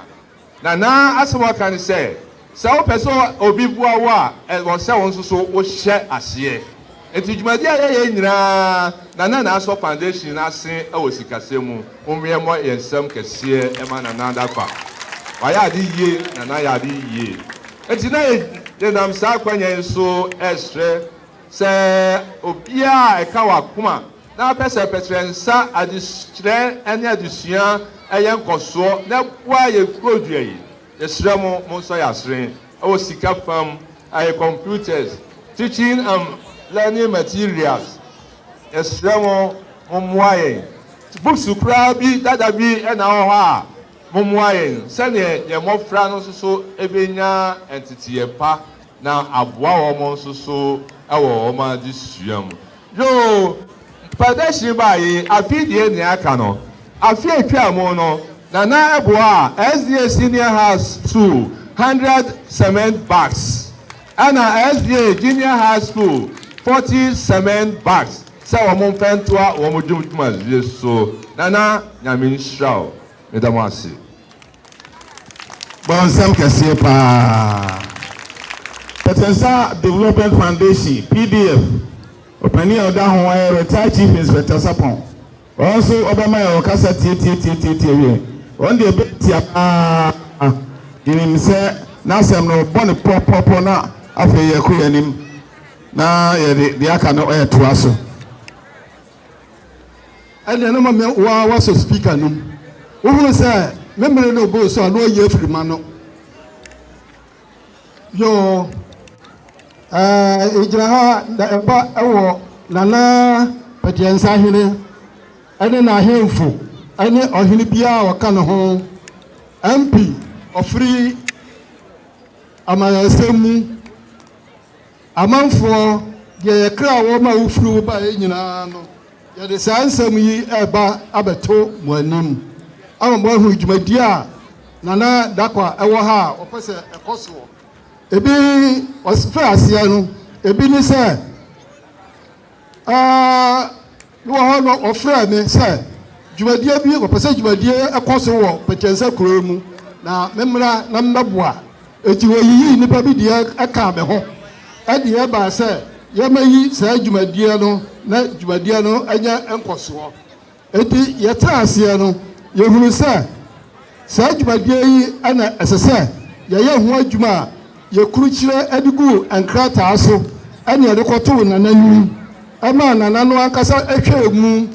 Speaker 6: Na na asɛm a ɔka ne sɛ, sɛ wopɛ sɛ obi boa wo a, ɛwɔ sɛ wo nso so wohyɛ aseɛ. Enti dwumadi a yɛyɛ nyinaa, Nana na asɔ foundation no ase wɔ sikasɛm mu. Mommeɛ mmɔ yɛn nsam kɛseɛ mma Nana Dankwa. Wayɛ ade yie na na ayɛ ade yie. Enti na yɛnam saa akwannya yi so resrɛ sɛ obiara a ɛka w'akoma, na pɛsɛpɛsɛ nsa adzekyerɛ nye adzesua yɛ nkɔsoɔ na boa yɛ kurodua yi. Yɛsrɛ mo monsɔ yɛ asere wɔ sika fam, ayɛ computers, teaching and learning materials. Yɛsrɛ mo mommoa yɛn. Books koraa bi dada bi na ɔwɔ hɔ a, mommoa yɛn sɛdeɛ yɛn mmɔfra no nso so bɛnya nteteɛ pa. na aboa wɔn nso so wɔ wɔn adesua mu. Yoo, Mpɛdɛhye baeɛ yi, afei deɛ nea aka no, afe a ɛtwaa mu no, na na ɛboa a SDA Senior High School hundred cement bags, ɛna SDA Junior High School forty cement bags sɛ wɔn mfa ntoa wɔn dwumadie so. Nana, Nyame nhyira wo. Meda mo ase.
Speaker 1: Bɔ nsɛm kɛseɛ paa. Pɛtɛnsa Development Foundation, pdf, Ɔpanin a ɔda ho yɛ Retired Chief Inspector Sapon. Wɔn nso wɔbɛma yɛn ɔkasa tiatiatiatiatia wiɛ. Wɔn deɛ ɛbɛ tia paa. Yɛnim sɛ n'asɛm no bɔ ne pɔpɔpɔ na afei yɛkɔ yɛn anim na yɛde deɛ aka no ɛɛtoa so.
Speaker 7: ɛnna na mame waa wasɔ speaker no mu wohuu sɛ me mmere no boro so a na ɔyɛ afiri ma no yoo ɛɛ egyina ha na ɛba ɛwɔ nana pɛdeɛnsa hene ɛne n'ahemfo ɛne ɔhene biara a ɔka ne ho mp ɔfiri amayɛsɛm mu Amanfoɔ, deɛ yɛ kra wɔ ma wofiri wo baeɛ nyinaa no, yɛde saa nsɛm yi reba abɛto mo anim ama moahunu dwumadie a Nana Dakwah wɔ ha a ɔpɛ sɛ ɛkɔ soɔ. Ebi, ɔfiri aseɛ no, ebi ne sɛ. Bi wɔ hɔ no, wɔfrɛɛ me sɛ dwumadie bi, wɔpɛ sɛ dwumadie ɛkɔ so wɔ Pɛkyɛnsɛ kuro yi mu na memmra na memmɛboa. Enti wɔyiyii nnipa bi deɛ ɛkaa me ho ɛde ɛbaa sɛ yɛmmɛyi saa dwumadie no na dwumadie no anya nkɔsoɔ. Enti yɛtee aseɛ no, yɛhunuu sɛ saa dwumadie yi na ɛsɛ sɛ yɛyɛ ho adwuma a yɛkurukyire de guu nkrataa so ne yɛde kɔtoo Nana anim maa Nana no ankasa hwɛɛ mu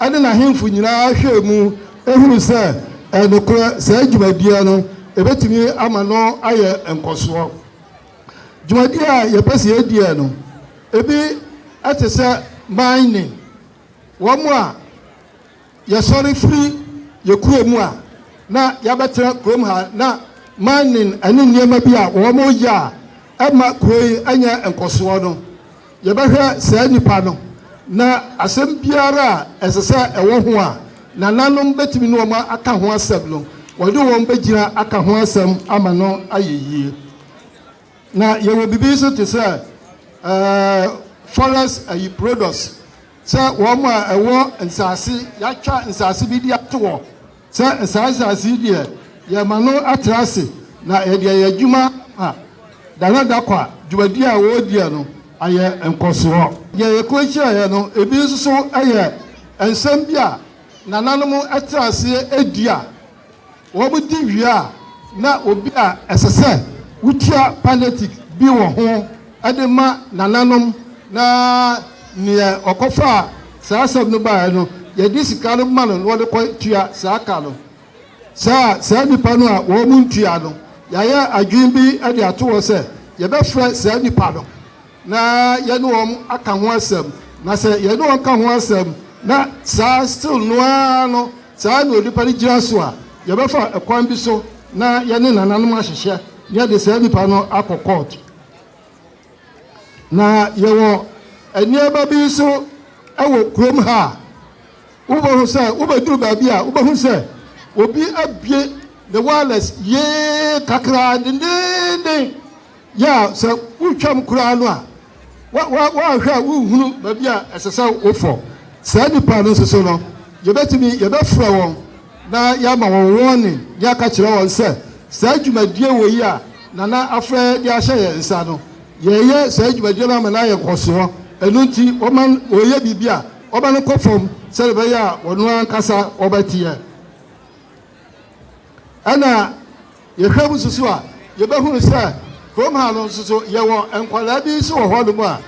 Speaker 7: ne n'ahemfo nyinaa hwɛɛ mu hunuu sɛ ɛyɛ nokorɛ saa dwumadie no ɛbɛtumi ama no ayɛ nkɔsoɔ. Dwumadie a yɛpɛ sɛ yɛdiɛ no, ebi te sɛ mining, Wɔn a yɛsɔre firi yɛn kuro mu a na yɛabɛtena kurom ha na mining ne nneɛma bi a wɔyɛ a ɛmma kuro yi nyɛ nkɔsoɔ no, yɛbɛhwɛ saa nnipa no na asɛm biara a ɛsɛ sɛ ɛwɔ ho a nananom bɛtumi ne wɔn aka ho asɛm no, wɔde wɔn bɛgyina aka ho asɛm ama no ayɛ yie. Na yɛwɔ biribi nso te sɛ forest ayi products sɛ wɔn a ɛwɔ nsaase yɛatwa nsaase bi de ato hɔ sɛ nsaa nsaase yi deɛ yɛma no atra ase na yɛde ayɛ adwuma ma Dana Dakwa dwumadi a wɔrediɛ no ayɛ nkɔsoɔ. Deɛ yɛkɔ kyerɛeɛ no ebi nso so yɛ nsɛm bi a nananom tra aseɛ dua. Wɔdi wie a, na obi a ɛsɛ sɛ wotua palliatic bi wɔ ho de ma nananom, na nea ɔkɔfaa saa asɛm no baeɛ no, yɛde sika no ma no na ɔde kɔtua saa ka no. Saa a, saa nnipa no a wɔntua no, yɛayɛ adwene bi de ato hɔ sɛ yɛbɛfrɛ saa nnipa no na yɛne wɔn aka ho asɛm, na sɛ yɛne wɔn ka ho asɛm na saa still no ara no saa na onipa no gyina so a, yɛbɛfa ɛkwan bi so na yɛne nananom ahyehyɛ na yɛde saa nipa no akɔ court. Na yɛwɔ nneɛma bi nso wɔ kurom ha a wobɛhu sɛ wobɛduru baabi a wobɛhu sɛ obi abie ne wireless yee kakraa dendeenden Yɛ a sɛ woretwam koraa no a, woanhwɛ a worenhunu baabi a ɛsɛ sɛ wofɔ. Saa nnipa no nso so no, yɛbɛtumi, yɛbɛfrɛ wɔn na yɛama wɔn warning, ne aka kyerɛ wɔn sɛ, saa dwumadie wɔ yi a Nana afrɛ de ahyɛ yɛn nsa no, yɛreyɛ saa dwumadie no ama no ayɛ nkɔsoɔ, ɛno nti wɔma wɔreyɛ biribi a, wɔma no kɔ fam sɛdeɛ ɛbɛyɛ a wɔn ankasa wɔbɛteɛ. Ɛna. Yɛhwɛ mu susu a, yɛbɛhunu sɛ kurom ha no nso so yɛwɔ nkwadaa bi nso wɔ hɔnom a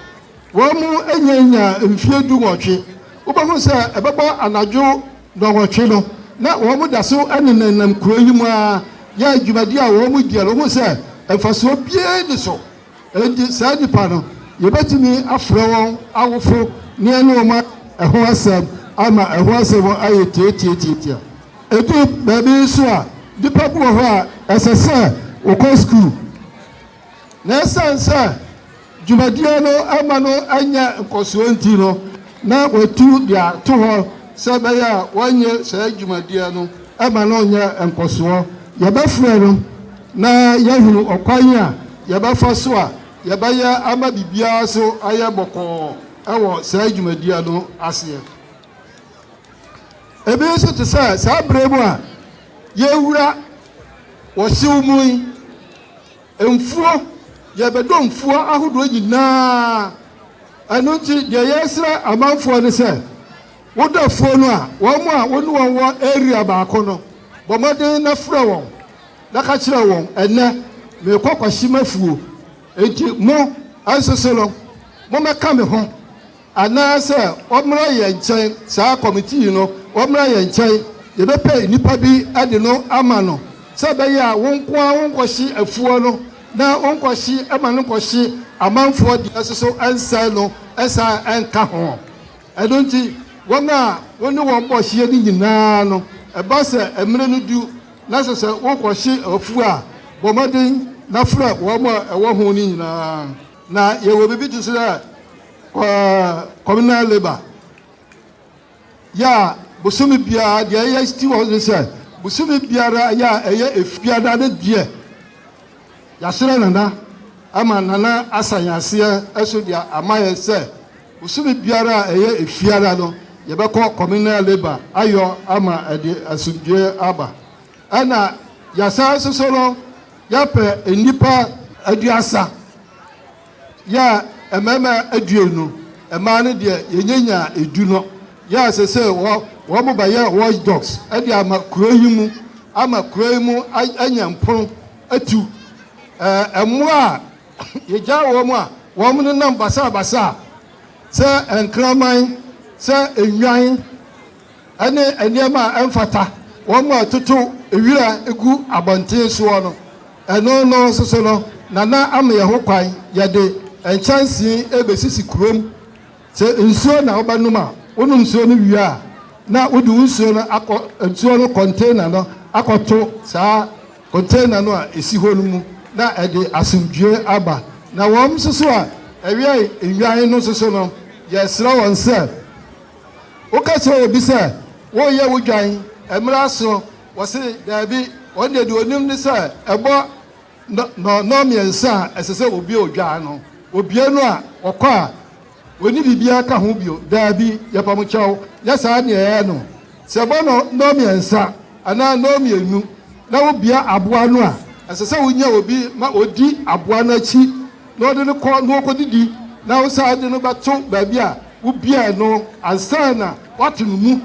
Speaker 7: wɔn nnya mfie du nwɔtwe. Wobɛhu sɛ ɛbɛbɔ anadwo nnɔnwɔtwe no na wɔn da so nenanam kuro yi mu ara yɛ dwumadi a wɔn di a wohu sɛ mfasoɔ biara ni so. Enti, saa nnipa no, yebetumi afrɛ wɔn awofo na yɛne wɔn aka ɛho asɛm ama ɛho asɛm no ayɛ tiatiatiatia. Edu baabi nso a, nnipa bi wɔ hɔ a, ɛsɛ sɛ wɔkɔ sukuu, na esiane sɛ dwumadie no amma no annya nkɔsoɔ nti no, na watu de ato hɔ sɛ ɛbɛyɛ a wɔnyɛ saa dwumadie no ma no nyɛ nkɔsoɔ. Yɛbɛfrɛ no na yɛahunu ɔkwan a yɛbɛfa so a yɛbɛyɛ ama biribiara so ayɛ bɔkɔɔ wɔ saa dwumadie no aseɛ. Ebi nso te sɛ saa berɛ mu a yɛwura wɔ hyew mu yi, Mfuo, yɛbɛdɔ mfuo ahodoɔ nyinaa. Ɛno nti deɛ yɛresrɛ amanfoɔ ne sɛ, wodɔ afuo no a, wɔn a wo ne wɔn wɔ area baako no, bɔ mmɔden na frɛ wɔn na ka kyerɛ wɔn, Ɛnnɛ, merekɔ Kwashimafuo, enti mo nso so no, mommɛka me ho. Anaasɛ ɔmmra yɛn nkyɛn, saa kɔmiti yi no, ɔmmra yɛn nkyɛn, yɛbɛpɛ nnipa bi de no ama no, sɛ ɛbɛyɛ a wo nko ara wonkɔhye afuo no, na wonkɔhye ma no nkɔhye amanfoɔ deɛ nso so ɛnsɛe no, ɛsan ɛnka ho. Ɛno nti, wɔn a wo ne wɔn bɔ hyeɛ no nyina ara no, ɛba sɛ mmerɛ no du na ɛsɛ sɛ wokɔhye afuo a, bɔ mmɔden na frɛ wɔn a ɛwɔ ho no nyina ara. Na yɛwɔ biribi te sɛ communal labour yɛ a bosome biara deɛ ɛyɛ sti wɔ ne sɛ bosome biara yɛ a ɛyɛ efiada ne deɛ yɛahyerɛ nana ama nana asa yɛn aseɛ ɛso deɛ ama yɛ sɛ bosome biara a ɛyɛ efiada no yɛbɛkɔ communal labour ayɔ ama ɛde asomdwoe aba ɛna yɛasan soso no yɛpɛ nnipa aduasa Yɛɛ mmarima aduonu, mmaa no deɛ yɛnyanyaa edu no. Yɛɛ sesei wɔ, wɔn ba yɛ watch dogs de ama kuro yi mu, ama kuro yi mu anya mpono atu. Ɛɛ mmoa a yɛgyaa wɔn a wɔn nenam basabasa sɛ nkraman, sɛ nnwan, ne nneɛma a ɛmfata, wɔn a ɛtoto wira gu abɔnten soɔ no, ɛno no nso so no, Nana ama yɛn ho kwan, yɛde nkyɛnsee rebɛsisi kurom. Sɛ nsuo na wobɛnom a, wonom nsuo no wie a, na wode wo nsuo no akɔ nsuo no kɔntena no akɔto saa kɔntena no a ɛsi hɔ no mu, na ɛde asomdwoeɛ aba. Na wɔn nso so a ɛwɛn nnwan no nso so no, yɛsrɛ wɔn sɛ, Woka kyerɛ obi sɛ, Woreyɛ wo dwan, mmra so. Ɔse, Daabi, ɔno deɛ, deɛ ɔnim ne sɛ ɛbɔ nnɔnnɔn mmiɛnsa a ɛsɛ sɛ ɔbue odwan no. Ɔbue no a, ɔkɔ a, ɔnni biribiara ka ho bio. Daabi, yɛpa mo kyɛw, nyɛ saa na ɛyɛ no. Sɛ ɛbɔ nnɔnnɔn mmiɛnsa anaa nnɔn mmienu na wobue aboa no a, ɛsɛ sɛ wonya obi ma ɔdi aboa no akyi na ɔde no kɔ na ɔkɔdidi na wosan de no bɛto baabi a Wobiae no ansa na wɔato no mu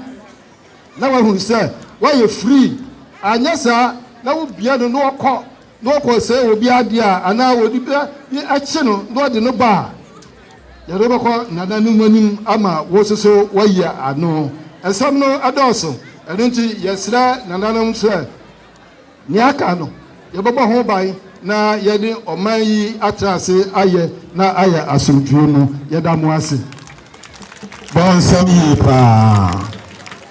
Speaker 7: na wɔahunu sɛ wɔayɛ free, anyɛ saa na wobia no na ɔkɔ na ɔkɔsɛe obi adeɛ a anaa wɔde bi akye no na ɔde no ba a, yɛde wo bɛkɔ nana no mu anim ama wo nso so woayi ano. Nsɛm no dɔɔso, ɛno nti yɛsrɛ nananom sɛ, Nea aka no, yɛbɛbɔ ho ban na yɛne ɔman yi atra ase ayɛ na ayɛ asomdwoe mu. Yɛda mo ase. Bɔ
Speaker 1: nsɛm yiye paa.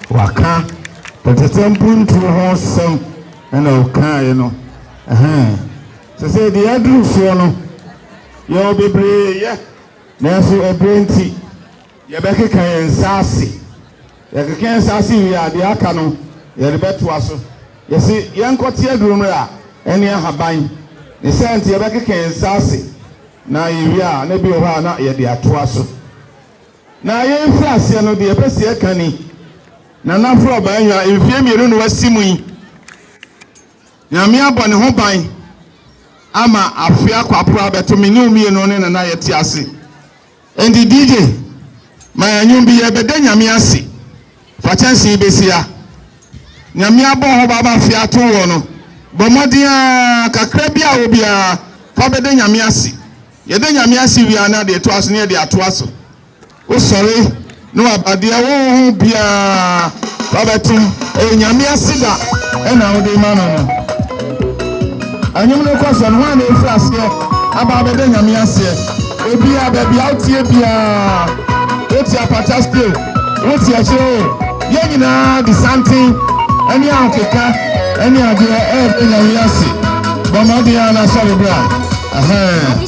Speaker 1: Waka Pɛtɛtɛ Mpuntuo ho sɛm na ɔkaaɛ no. Ɛhɛn. Sɛsɛɛ deɛ aduru soɔ no, yɛwɔ bebree yɛ, nanso ɛberɛ nti. Yɛbɛkeka yɛn nsa ase. Yɛkeka yɛn nsa ase wie a, deɛ aka no, yɛde bɛtoa so. Yɛse, Yɛnkɔte aduro mmrɛ a ɛne ahaban. Ne saa nti, yɛbɛkeka yɛn nsa ase, na yɛwie a, na bi wɔ hɔ a, na yɛde atoa so. Na yɛn mfitiaseɛ no, deɛ yɛpɛ sɛ yɛka ni, Nana Flo Baanyua, mfeɛ mmienu na wasi mu yi, Nyame abɔ ne ho ban ama Afea Kwaporaa abɛto me ne wo mmienu ne Nana Yɛtease. Enti DJ ma yɛn nwom bi yɛbɛda Nyame ase fa kyɛnse yi bɛsi ha Nyame abɔ hɔ baba fie ato wɔ no bɔ mmɔden aa kakra bi a wɔ biara fa bɛda Nyame ase yɛda Nyame ase wie a na deɛ ɛtoa so no yɛde atoa so wosɔre No aba deɛ wonho biaa wabɛto ɛyɛ nyame aseda ɛna wode ma no no ɛnwom no kɔ sɛ no hɔ na ɛfiri aseɛ aba abɛdɛ nyame aseɛ ebia baabi a wotie biaa wote apata steo wote akyerɛ o yɛ nyinaa de santen ɛne ahokeka ɛne adeɛ ɛɛdɛ nyame ase bɔmmɔden a na asɔre bra ɛhɛn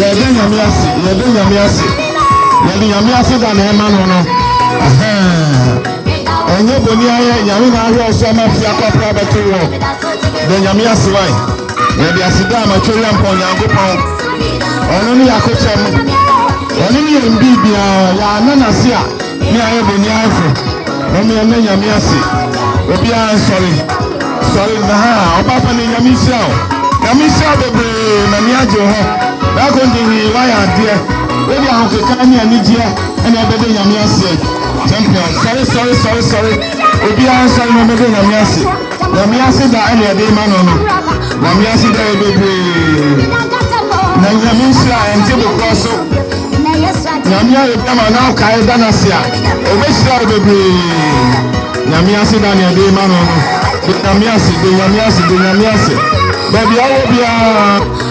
Speaker 1: yɛda nyame ase yɛda nyame ase yɛde nyame ase da na ɛma no no ɛnyɛ bɔni ayɛ nyame na ahwɛ ɔso ama fi akɔpra bɛto wɔ na nyame ase wae yɛde ase da ama twɛ yɛmpɔ onyankopɔn ɔno ne yɛakokyɛm ɔno ne yɛn biribiaa yɛana nase a Me ayɛ me ni afe na me ɛna nyame ase obiara nsɔre sɔre na ha ɔba pa ne nyame nhyira o nyame nhyira bebree na ne agye ho baako de hi wayɛ adeɛ wode ahokeka ne anigyeɛ ɛna ɛbɛde nyame ase champion sɔre sɔre sɔre sɔre obiara nsɔre na ɔbɛde nyame ase Nyame ase da ɛna ɛde ma no no Nyame ase da yɛ bebree na Nyame nhyira ɛnte bokorɔ so Nyame ayɛ bi ama na ɔkae da no ase a ɔbɛhyira wo bebree Nyame ase da na ɛde ma no no de Nyame ase de Nyame ase de Nyame ase baabi a wɔ biara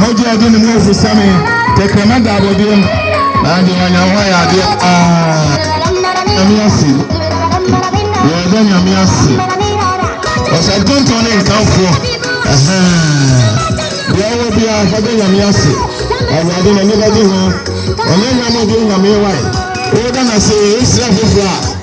Speaker 1: Mogya ɔde ne mu afusa me, tɛkrɛma da abɔdeɛm. Na deɛ wanya ho ayɛ adeɛ aa. Nyame ase. Yɛda Nyame ase. Ɔsɛntontɔn ne nkamfoɔ. Deɛ wɔ biara fa bɛ Nyame ase. Awurade na nipa di ho. Ɔnyɛ nyame bi Nyame wae. Woda na se, wosrɛ foforɔ a.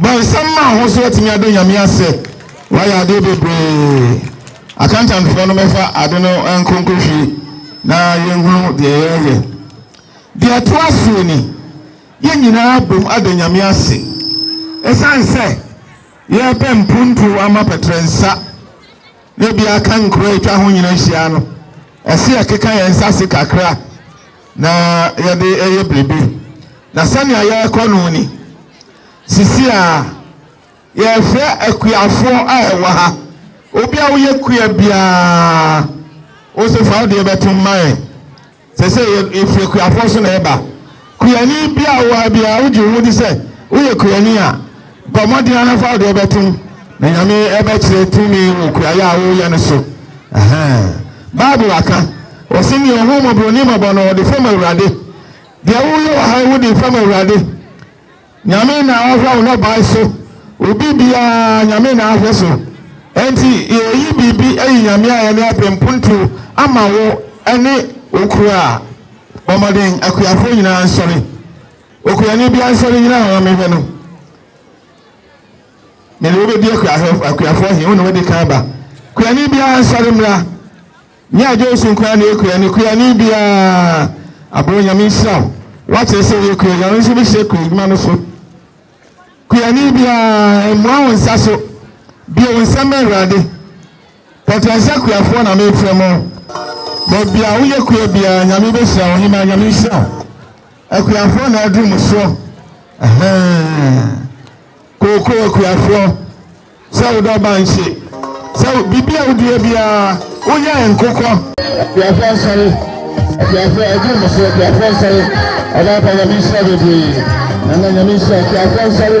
Speaker 1: Bɔ nsam ma ho so atumi ada Nyame ase. Wayɛ adeɛ bebree. Accountantfoɔ no mɛfa ade no nkonko hwi na yɛnhunu deɛ yɛreyɛ. Deɛ ɛto asoɔ ni, yɛn nyinaa abom ada Nyame ase ɛsiane sɛ yɛrepɛ mpuntuo ama pɛtrɛnsa na ebia aka nkuro a atwa ho nyina ahyia no, ɛse yɛkeka yɛn nsa ase kakra. na yɛde yɛ biribi. Na sɛnea yɛrekɔ no ni, sisi a yɛrefrɛ akuafoɔ a ɛwɔ ha, obi a woyɛ kua biara, wo se fa wo deɛ bɛto mma yɛn. Sɛ sɛ yɛfiri akuafoɔ so na ɛba. Kuani biara wɔ ha biara, wogye wo ho di sɛ woyɛ kuani a, Bɔ mmɔden ara fa wo deɛ bɛtom na Nyame bɛkyerɛ tumi wɔ kuayɛ a woyɛ no so. Ahaa. Bible aka, ɔse nea ɔhu mmɔborɔni mmɔbɔ no ɔde fam Awurade. Deɛ woyɛ wɔ ha yi wode fam Awurade. Nyame na ɔhwɛ wo nnɔbae so. Obi biara Nyame na ahwɛ so. Enti yɛyi biribi ayi Nyame a ɛne apenpontuo ama wo ne wo kura. Bɔ mmɔden akuafoɔ nyinaa nsɔre. Okuani bi ansɔre nnyina hɔ mmɛhwɛ no. Mede wo bɛdi akuafoɔ he, wo ne wode kan aba. Kuani biaa nsɔre mmra. Nyɛ adwoeso nko ara na ɛyɛ kuani. Kuani biaa aboɔ Nyame nhyira wo. Woakyerɛ sɛ woyɛ kuani. Nyame nso bɛhyira kua adwuma no so. Kuani biaa mmua wo nsa so. Bue wo nsam ma Awurade. Pɔtɛnsa kuafoɔ na mefrɛ mo. Baabi a woyɛ kua biaa Nyame bɛhyira wo. Hemaa Nyame nhyira wo. Akuafoɔ na aduru mo soɔ ahaa Kookoo akuafoɔ Sɛ wo dɔ ba nhye Sɛ wo biribi a wodua biara Woyɛ nkokɔ Akuafoɔ nsɔre Akuafoɔ aduru mo soɔ Akuafoɔ nsɔre Ɔbaa pa nyame nhyira bebree Nana nyame nhyira Akuafoɔ nsɔre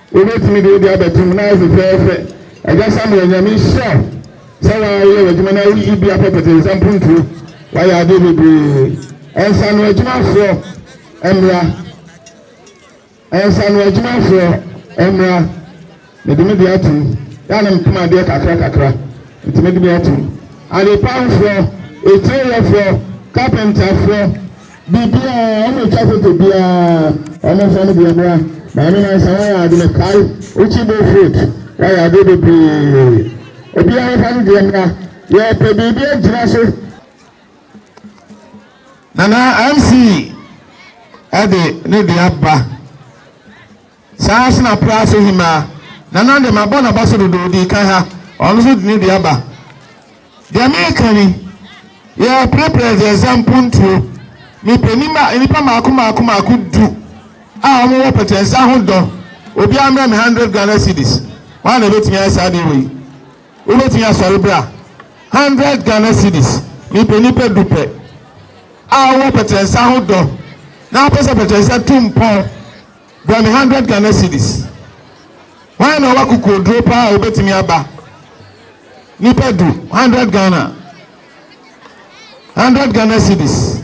Speaker 1: Wobɛtumi de wo deɛ abɛto mu na ayɛ fɛfɛɛfɛ. Agya Samuel, Nyame nhyira wo sɛ woayɛ w'adwuma na woyi bi apɛpɛtɛ nsa mpuntuo. Woayɛ adeɛ bebree. Nsano adwumafoɔ mmra. Nsano adwumafoɔ mmra. Mede me deɛ ato mu. Yɛ a na mepem adeɛ kakra kakra. Nti mede me ato mu. Adepahofoɔ, etieyɛfoɔ, kapentafoɔ. Biribiara, wɔn twa photo biara. Wɔn nfa no bi mmra. Maame Nansa wayɛ ade me kae wo kyi bo fruit wayɛ adeɛ bebree obiara nfa no deɛ mmra yɛpɛ biribi agyina so. Nana MC ɛde ne deɛ aba. Saa ara nso na Pra Ase Hemaa, Nana deɛ mabɔ no abaso dodo, ɔdii kan ha, ɔno nso de ne dua ba. Deɛ mereka ni, yɛɛ Pra Pra Aziaza mpontuo, mepɛ nima, nnipa mmaako mmaako mmaako du a wɔn wɔ pɛtɛnsa ho dɔ, obiara mmrɛ me hundred Ghana cedis, hwan na ɛbɛtumi ayɛ saa adeɛ wei? Wobɛtumi asɔre bra? Hundred Ghana cedis, mepɛ nnipa du pɛ a wɔn wɔ pɛtɛnsa ho dɔ, na wopɛ sɛ pɛtɛnsa tu mpɔn. Bua me hundred Ghana cedis. Hwan na ɔwɔ akokoɔduro paa a obetumi aba? Nipa du, hundred Ghana. Hundred Ghana cedis.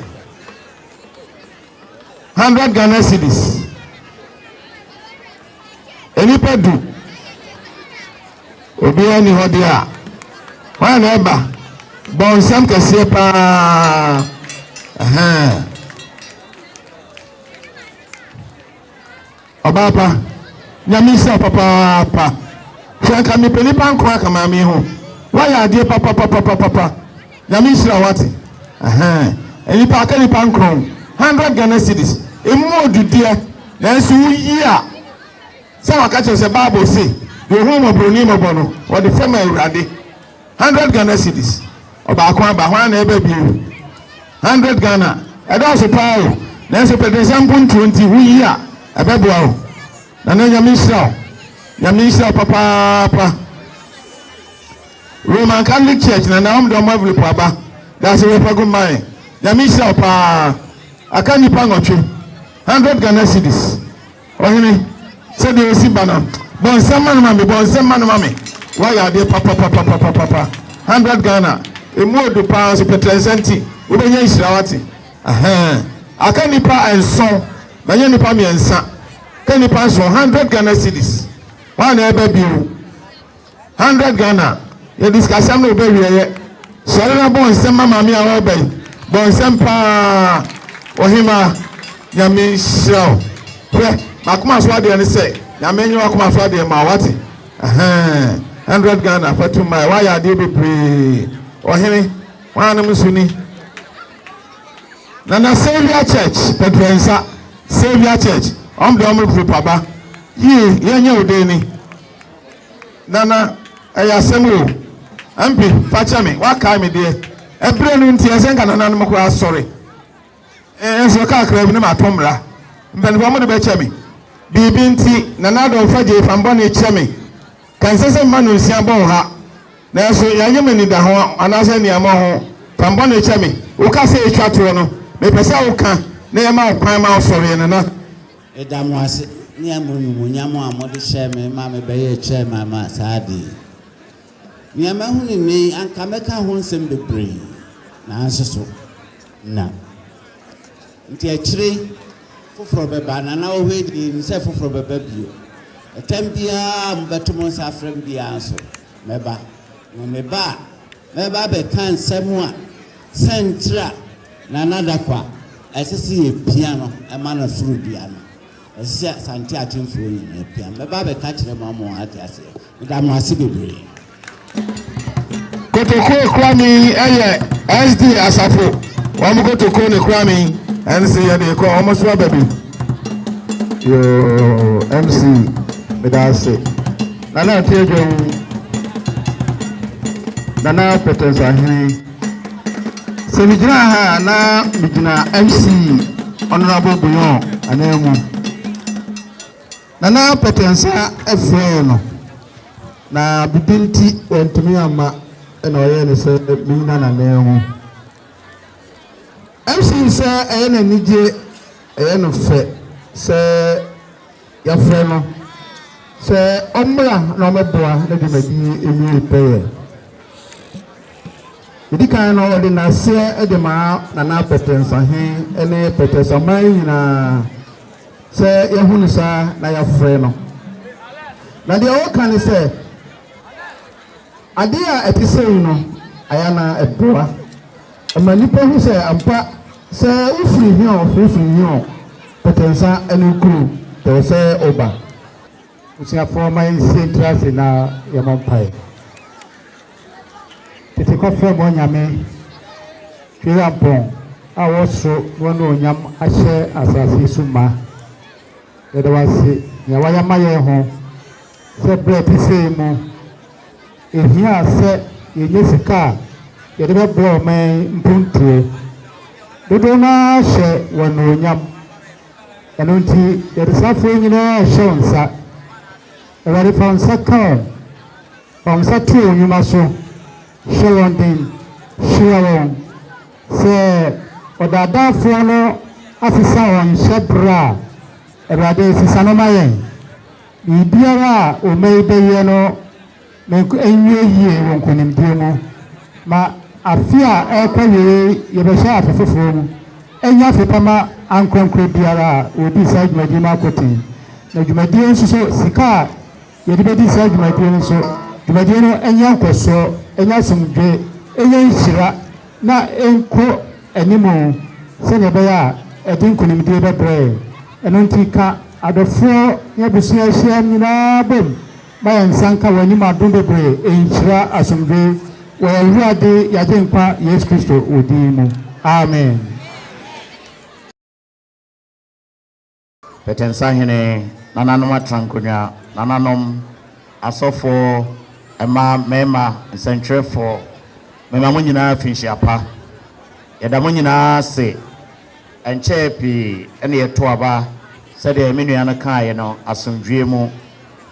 Speaker 1: Hundred Ghana cedis. Nipa du. Obiara ni hɔ deɛ a. Hwan na ɛba? Bɔnsam kɛseɛ paa. Ahaa. Ɔbaa pa, Nyame nhyira wo papaapa. Hwɛ anka mepɛ nipa nko aka maame ho. Woayɛ adeɛ papapapapapa. Nyame nhyira wo ate. Ɛhɛn, nipa aka nipa nkron. Hundred Ghana cedis. Emu odudeɛ. Nanso woyi a, sɛ waka kyerɛ sɛ Bible se, deɛ ohun mmɔboroni mmɔbɔ no, wɔde fɛm Awurade. Hundred Ghana cedis ɔbaako aba, hwan na ɛba bio? Hundred Ghana, ɛdɔɔso paa o, nanso pɛdensɛm mpontuo nti wo yi a, ɛbɛboa wo. Nana Nyame nhyira wo, Nyame nhyira wo papaapa. Roman Catholic Church, Nana wɔn de wɔn envelope aba, daase wɔ fagu mma yɛn, Nyame nhyira wo paa. Aka nnipa nwɔtwe, hundred Ghana cedis. Ɔhene, sɛdeɛ ɔsi ba no, bɔ nsɛm ma no ma me, bɔ nsɛm ma no ma me. Woayɛ adeɛ papapapapapapa. Hundred Ghana, ɛmu ɔdu paa nso pɛtrɛnsɛ nti, wobɛnya nhyira woate. Ahaa, aka nnipa nson, manya nnipa mmiɛnsa, ka nnipa nson, hundred Ghana cedis. Hwan na ɛreba bio? 100 Ghana yɛde sikasɛm no ɔbɛ wiɛyɛ sɔre na bɔ nsɛm ma maame a ɔreba yi bɔ nsɛm paa ɔhema nyame nhyira wo hwɛ makoma so adeɛ no sɛ nyame nyɛ wakoma so adeɛ ma wate ɛhɛn 100 Ghana fatu mmae wayɛ adeɛ bebree ɔhene wanom nso ni na na Savior Church pɛtrɛ nsa Savior Church ɔm de ɔm repapa ba yie yɛnyɛ wo dee ni Nana, ɛyɛ asɛm o. Aunty, fa kyɛ me, woakae me deɛ. Ɛberɛ no nti, ɛsɛ nka nananom koraa asɔre. Nso kakra bi na mato mmra. Mpanimfoɔ mo de bɛkyɛ me. Biribi nti, Nana Adom fa gyei fa mbɔne kyɛ me. Ka ɛnsɛ sɛ mma nonsia bɔ wo ha. Nanso yɛanyɛ me anidaho anaasɛ aniammɔ ho. Fa mbɔne kyɛ me. Wo kasa a ɛtwa toɔ no, mepɛ sɛ woka na yɛma wo kwan ma wosɔreɛ, Nana. Meda mo ase
Speaker 3: ne amumuyam a mode hyɛɛ me ma mebɛyɛɛ chairman ma saa ade yi. Nea mahu no nnɛ yi, anka mɛka ho nsɛm bebree, nanso so na. Enti akyire yi, foforɔ bɛba, na na ɔhɔ yi deɛ yɛnim sɛ foforɔ bɛba bio. Ɛtam biara a mobɛto mo nsa afrɛ me biara nso, mɛba. Na meba a, mɛba abɛka nsɛm a. Sɛnkyerɛ a Nana Dakoa ɛsɛ sɛ yɛpia no ma no soro dua no, ɛsɛ sɛ Asante Akyemfoɔ nyinaa pia no. Mɛba abɛka akyerɛ mo ama moate aseɛ. Meda mo ase bebree. Kotoko Ekurami ɛyɛ SD Asafo wɔn kotoko ne Ekurami ɛnse yɛde ekɔ wɔn nso aba bi. Yoo MC meda ase. Nana ate adwa mu. Nana Pɛtɛnsahene. Sɛ megyina ha a na megyina MC Honourable Boyɔn ananmu. Nana Pɛtɛnsa frɛɛ no na bibi nti wantumi amma na ɔyɛɛ no sɛ megyina n'ananmu. MC sɛ ɛyɛ n'anigye, ɛyɛ no fɛ sɛ Yɛfrɛ no sɛ ɔmmra na ɔmmɛboa ne dwumadi awiei pɛyɛ. Edi kan no, ɔde nnaseɛ de maa Nana Pɛtɛnsahen ne Pɛtɛsaman nyinaa sɛ yɛahu no saa na yɛafrɛ no. Na deɛ ɔreka ne sɛ, Adeɛ a ɛte sei no, ayɛ anaa ɛboa? Ɛma nnipa hu sɛ ampa sɛ wofiri Hiɔɔ firifiri Hiɔɔ pɛtɛnsa ne nkuro pɛɛ sɛ woba. Abusuafoɔ ma yɛnsie ntra ase na yɛmɔ mpaeɛ. Tete kɔ frɛ mo anyame Twirampɔn a ɔwɔ soro na ɔne onyam ahyɛ asase yi so ma. Yɛda wo ase nea wayɛ ama yɛn ho sɛ berɛ ɛte sei mu. Ehia sɛ yenya sika a yɛde bɛboa ɔman yi mpontie. Dodow no ara hyɛ wo anuonyam. Ɛno nti, yɛde saa afɔre nyinaa rehyɛ wo nsa. Awurade, fa wo nsa ka wɔn. Fa wo nsa to wɔn nnwuma so. Hyɛ wɔn den. Hyira wɔn. Sɛ ɔdaadaafoɔ no asesa wɔn hyɛbrɛ a, Awurade, sesa no ma yɛn. Biribiara a Omei bɛyɛ no nwie yie wɔ nkonimdie mu ma afe a ɛrekɔ wieɛ yi yɛbɛhyɛ afe foforɔ mu. Ɛnyɛ afe pa ma ankorɛnkorɛ biara a wɔdii saa dwumadie no akɔten. Na dwumadie nso so, sika a yɛde bɛdi saa dwumadie no nso, dwumadie
Speaker 8: no nya nkɔsoɔ, ɛnya asomdwoeɛ, ɛnya nhyira na ɛnkɔ anim sɛnea ɛbɛyɛ a ɛde nkonimdie bɛbrɛ yɛn. Ɛno nti, ka adɔfoɔ ne abusua a ahyiam nyinaa bom ma yɛn nsa nka wɔn anim adom bebree nhyira asomdwoe wɔ yɛn Awurade, yɛn Agyenkwa Yesu Kristo wo din mu. Amen.
Speaker 9: Tete nsahene, nananom atrankonnwa, nananom, asɔfoɔ, mmaa, mmarima, nsɛntwerɛfoɔ, mema mo nyinaa afinhyia pa. Yɛda mo nyinaa ase. Ɛnkyɛɛ pii na yɛtoo aba, sɛdeɛ me nua no kaeɛ no, asomdwoeɛ mu.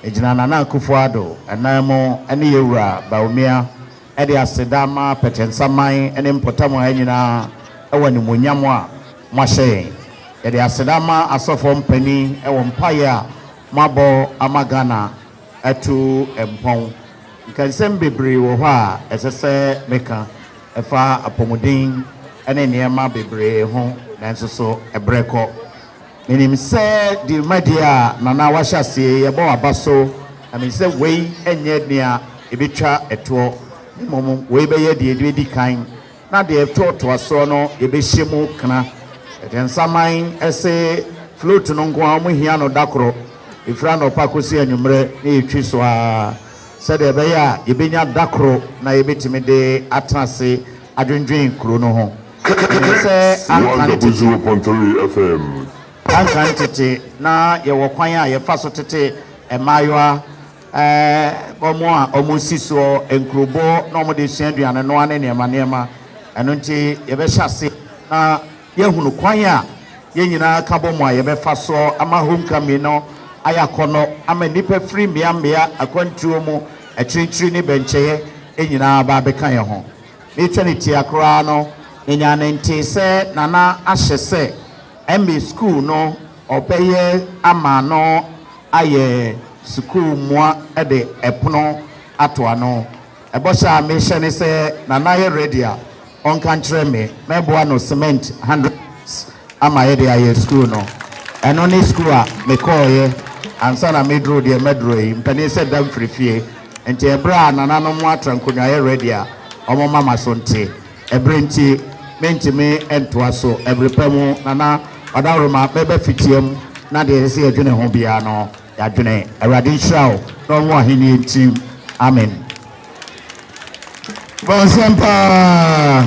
Speaker 9: Megyina Nana Akufo-Addo nan mu ne yɛn wura Bawumia. de aseda ma Pɛtɛnsa man ne mpɔtam ha nyinaa wɔ animuonyam a moahyɛ yɛn. Yɛde aseda ma asɔfoɔ mpanin wɔ mpaeɛ a moabɔ ama Ghana atu mpɔn. Nkɛnsɛm bebree wɔ hɔ a ɛsɛ sɛ meka, ɛfa apɔmuden ne nneɛma bebree ho, nanso so berɛ kɔ. Menim sɛ dwumadie a Nana wahyɛ aseɛ yi ɛbɔ aba so na menim sɛ wei nyɛ nea ɛbɛtwa toɔ na mmom wei bɛyɛ deɛ ɛdi kan na deɛ ɛtoatoa soɔ no yɛbɛhyɛ mu kena. Aduansaman se float no nko ara wɔhia no da koro, ɛfiri anɔpa kɔsi anwummerɛ na yɛtwi so ara sɛdeɛ ɛbɛyɛ a yɛbɛnya da koro na yɛbɛtumi de atena ase adwendwen kuro no ho. Ɛyɛ sɛ anka no tete. Anka no tete, na yɛwɔ kwan a yɛfa so tete mmaayewa, ɛɛ, wɔn a wɔsi soɔ nkurobo na wɔde sua aduane noa ne nneɛma nneɛma. Ɛno nti yɛbɛhyɛ ase na yɛahunu kwan a yɛn nyinaa ka bɔ mu a yɛbɛfa soɔ ama homecoming no ayɛ akɔnnɔ ama nnipa firi mmea mmea, akwantuo mu, akyirikyiri ne bɛnkyɛeɛ nyinaa aba abɛka yɛn ho. Ne sɛntiaa koraa no, menyaa no ntee sɛ Nana ahyɛ sɛ ɛmbe sukuu no ɔbɛyɛ ama no ayɛ sukuu mmoa de ɛpono ato ano. Ɛbɔhyɛ a mehyɛ ne sɛ Nana yɛ ready a, ɔnka nkyerɛ me. Mɛboa no cement hundred cedis ama yɛde ayɛ sukuu no. Ɛno ne sukuu a mekɔeɛ ansa na meduruu deɛ maduru yi. Mpanin sɛ da mfiri fie. Nti ɛberɛ a nananom mo atra nkonwaeɛ ready a ɔmo ma maso nte ɛberɛ nti mentumi ntoa so ɛbere pa mu nana ɔdawroma mɛba fitia mu na deɛ ɛsɛ sɛ yɛdwene ho biara no yɛadwene awurade nhyira wo na ɔnwo ahennie ntim amen.
Speaker 1: Bɔnsam paa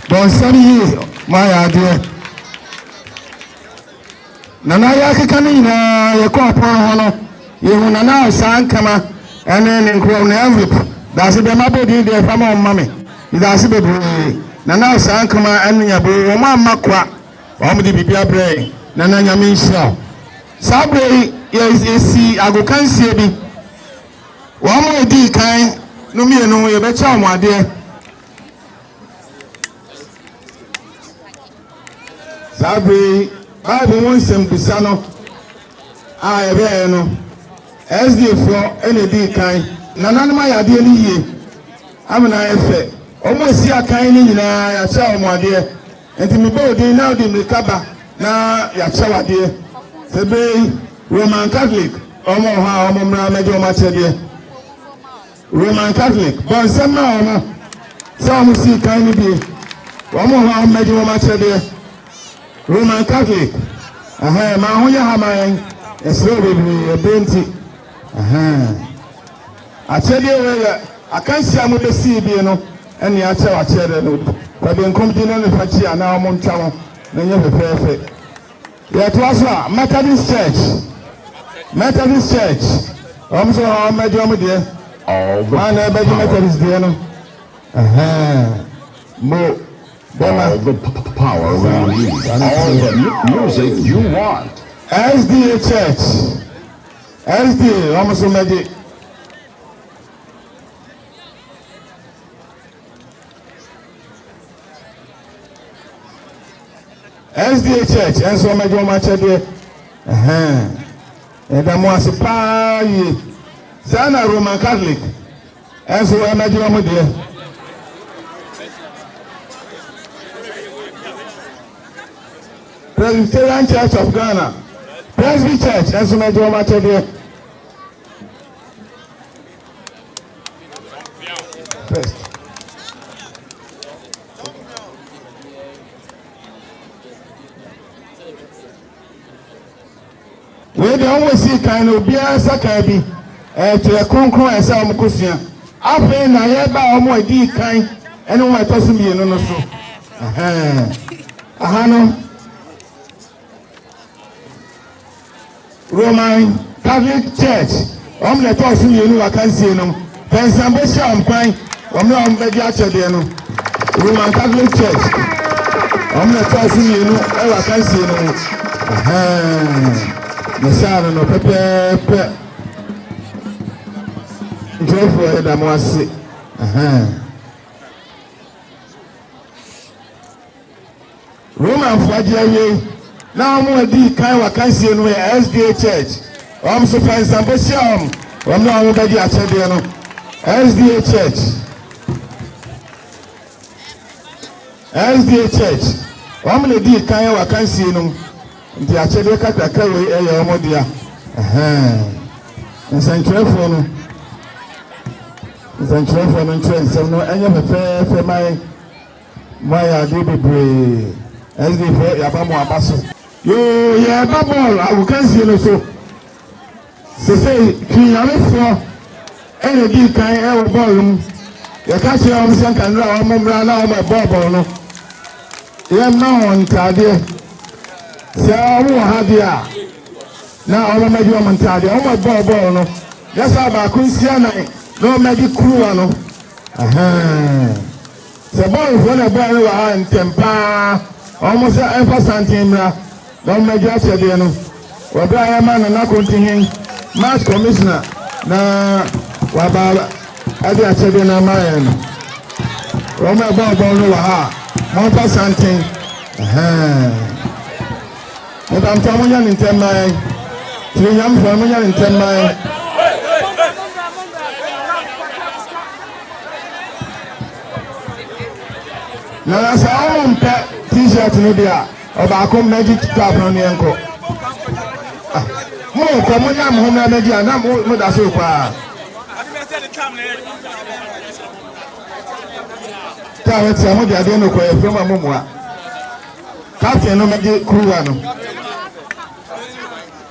Speaker 1: bɔnsam yie moayɛ adeɛ. Nana yɛakeka ne nyinaa yɛkɔɔ pon hɔ no yɛhu Nana a saa nkama ɛne ne nkorɔw ne envelope daase deɛ mabɔ din deɛ fa ma wɔn ma me medaase bebree Nana a saa nkama ɛne nyaboo wɔn amma kwa wɔn de biribi abrɛ yɛn Nana nyame nhyira wo saa berɛ yi yɛsi agokansie bi wɔn a ɛdii kan no mmienu yɛbɛkyɛ wɔn adeɛ. Saa bere yi Bible mu nsɛmmisa no a ɛbaeɛ no, SDfoɔ na ɛdii kan. Nananom ayɛ adeɛ no yie ama no ayɛ fɛ. Wɔn a ɛsi akan no nyinaa yɛakyɛ wɔn adeɛ. Nti mebɔ wo din na wode mmirika ba na yɛakyɛ wo adeɛ. Sɛ bere yi Roman Catholic wɔn wɔ hɔ a wɔmmra mmɛgye wɔn akyɛdeɛ. Roman Catholic bɔ nsɛm maa wɔn sɛ wɔn sii kan no bie wɔn wɔ hɔ a wɔbɛgye wɔn akyɛdeɛ. Roman Catholic ɛhɛn ma ho yɛ ha ma yɛn ɛsrɛ bebree ɛberɛ nti ɛhɛn akyɛdeɛ wei yɛ akansi a mobɛsii bie no ɛne akyɛw akyɛdeɛ no kwabenkum di no ne fa kyi anaa wɔn ntwa ho na nyɛ fɛfɛɛfɛ. Yɛtoa so a, Methodist Church, Methodist Church, wɔn nso wɔn abɛgye wɔn deɛ. Wɔn na ɛbɛgye Methodist deɛ no. Mo bɛma. All
Speaker 10: the power we need, all the music you want. SDA
Speaker 1: Church, SDA wɔn nso mɛgye. SDA Church ɛnso wɔn agye wɔn akyɛdeɛ ɛhɛn ɛda mo ase paa yie saa na Roman Catholic ɛnso wɔn agye wɔn deɛ. Presbyterian Church of Ghana Presby Church ɛnso wɔn agye wɔn akyɛdeɛ. First. Wei deɛ wɔn si kan no obiara nsa kan bi ɛkyerɛ kronkron ɛsɛ wɔn kɔ sua afei na yɛba a wɔn adi kan ɛne wɔn ɛtɔ so mmienu no so aha no. Roman Catholic Church wɔn na ɛtɔɔ so mmienu wɔ akansie no pɛnsɛn bɛhyɛ wɔn kwan wɔn na wɔn bɛgye akyɛdeɛ no Roman Catholic Church wɔn na ɛtɔɔ so mmienu wɔ akansie no mu mesaa no no pɛpɛɛpɛ nkurɔfoɔ yɛda mo ase. Romanfo agye awiei na wɔn a dii kan wɔakansie no yɛ SDA Church. Wɔn nso fa nsa mpo hyia wɔn, wɔn a wɔbɛgye akyɛdeɛ no. SDA Church. SDA Church. Wɔn na dii kan wɔakansie no mu. Nti akyɛdeɛ kakrakra wei yɛ wɔn dea. Ɛhɛn. Nsɛnkyerɛfoɔ no. Nsɛnkyerɛfoɔ no nkyerɛ nsɛm no ɛnyɛ fɛfɛɛfɛ ma yɛn. Mo ayɛ adeɛ bebree. SD foɔ yaba mo aba so. Yoo yɛɛba bɔɔl agokansie no so sesei Twi yarefoɔ ɛna dii kan ɛwɔ bɔɔl no mu yɛka kyerɛ wɔn sɛ nka nnura wɔn mmra na wɔn ɛbɔɔ bɔɔl no yɛmma wɔn ntaadeɛ sɛ wɔn wɔ ha deɛ a na wɔn mmɛgye wɔn ntaadeɛ wɔn ɛbɔɔ bɔɔl no yɛsa baako nsia nan na wɔn mmɛgye kuruwa no ɛhɛn. Sɛ Bɔɔlfoɔ na ɛbɔɔ no wɔ ha ntɛm pa ara, wɔn sɛ ɛmfa santen mmra na wɔmmɛgye akyɛdeɛ no wɔ berɛ a yɛrema Nana Kontihen, Match Commissioner, na waba de akyɛdeɛ no ama yɛn no. Wɔn a ɛbɔɔ bɔɔl no wɔ ha, momfa santen, ɛhɛɛ, Mebamtoa monyɛ no ntɛm ma yɛn, Tirinwamfoɔ no monyɛ no ntɛm ma yɛn. Nana sɛ ɔmo mpɛ t-shirt no deɛ a ɔbaako mmɛgye cup no ne yɛnkɔ ah, mo kɔ mo nya mo ho mmerɛ mmɛgye a na mo mo da so kɔ a tá a wɔte a mo de adeɛ no kɔ yɛfrɛ mo a mo mua captain no mmɛgye kuruwa no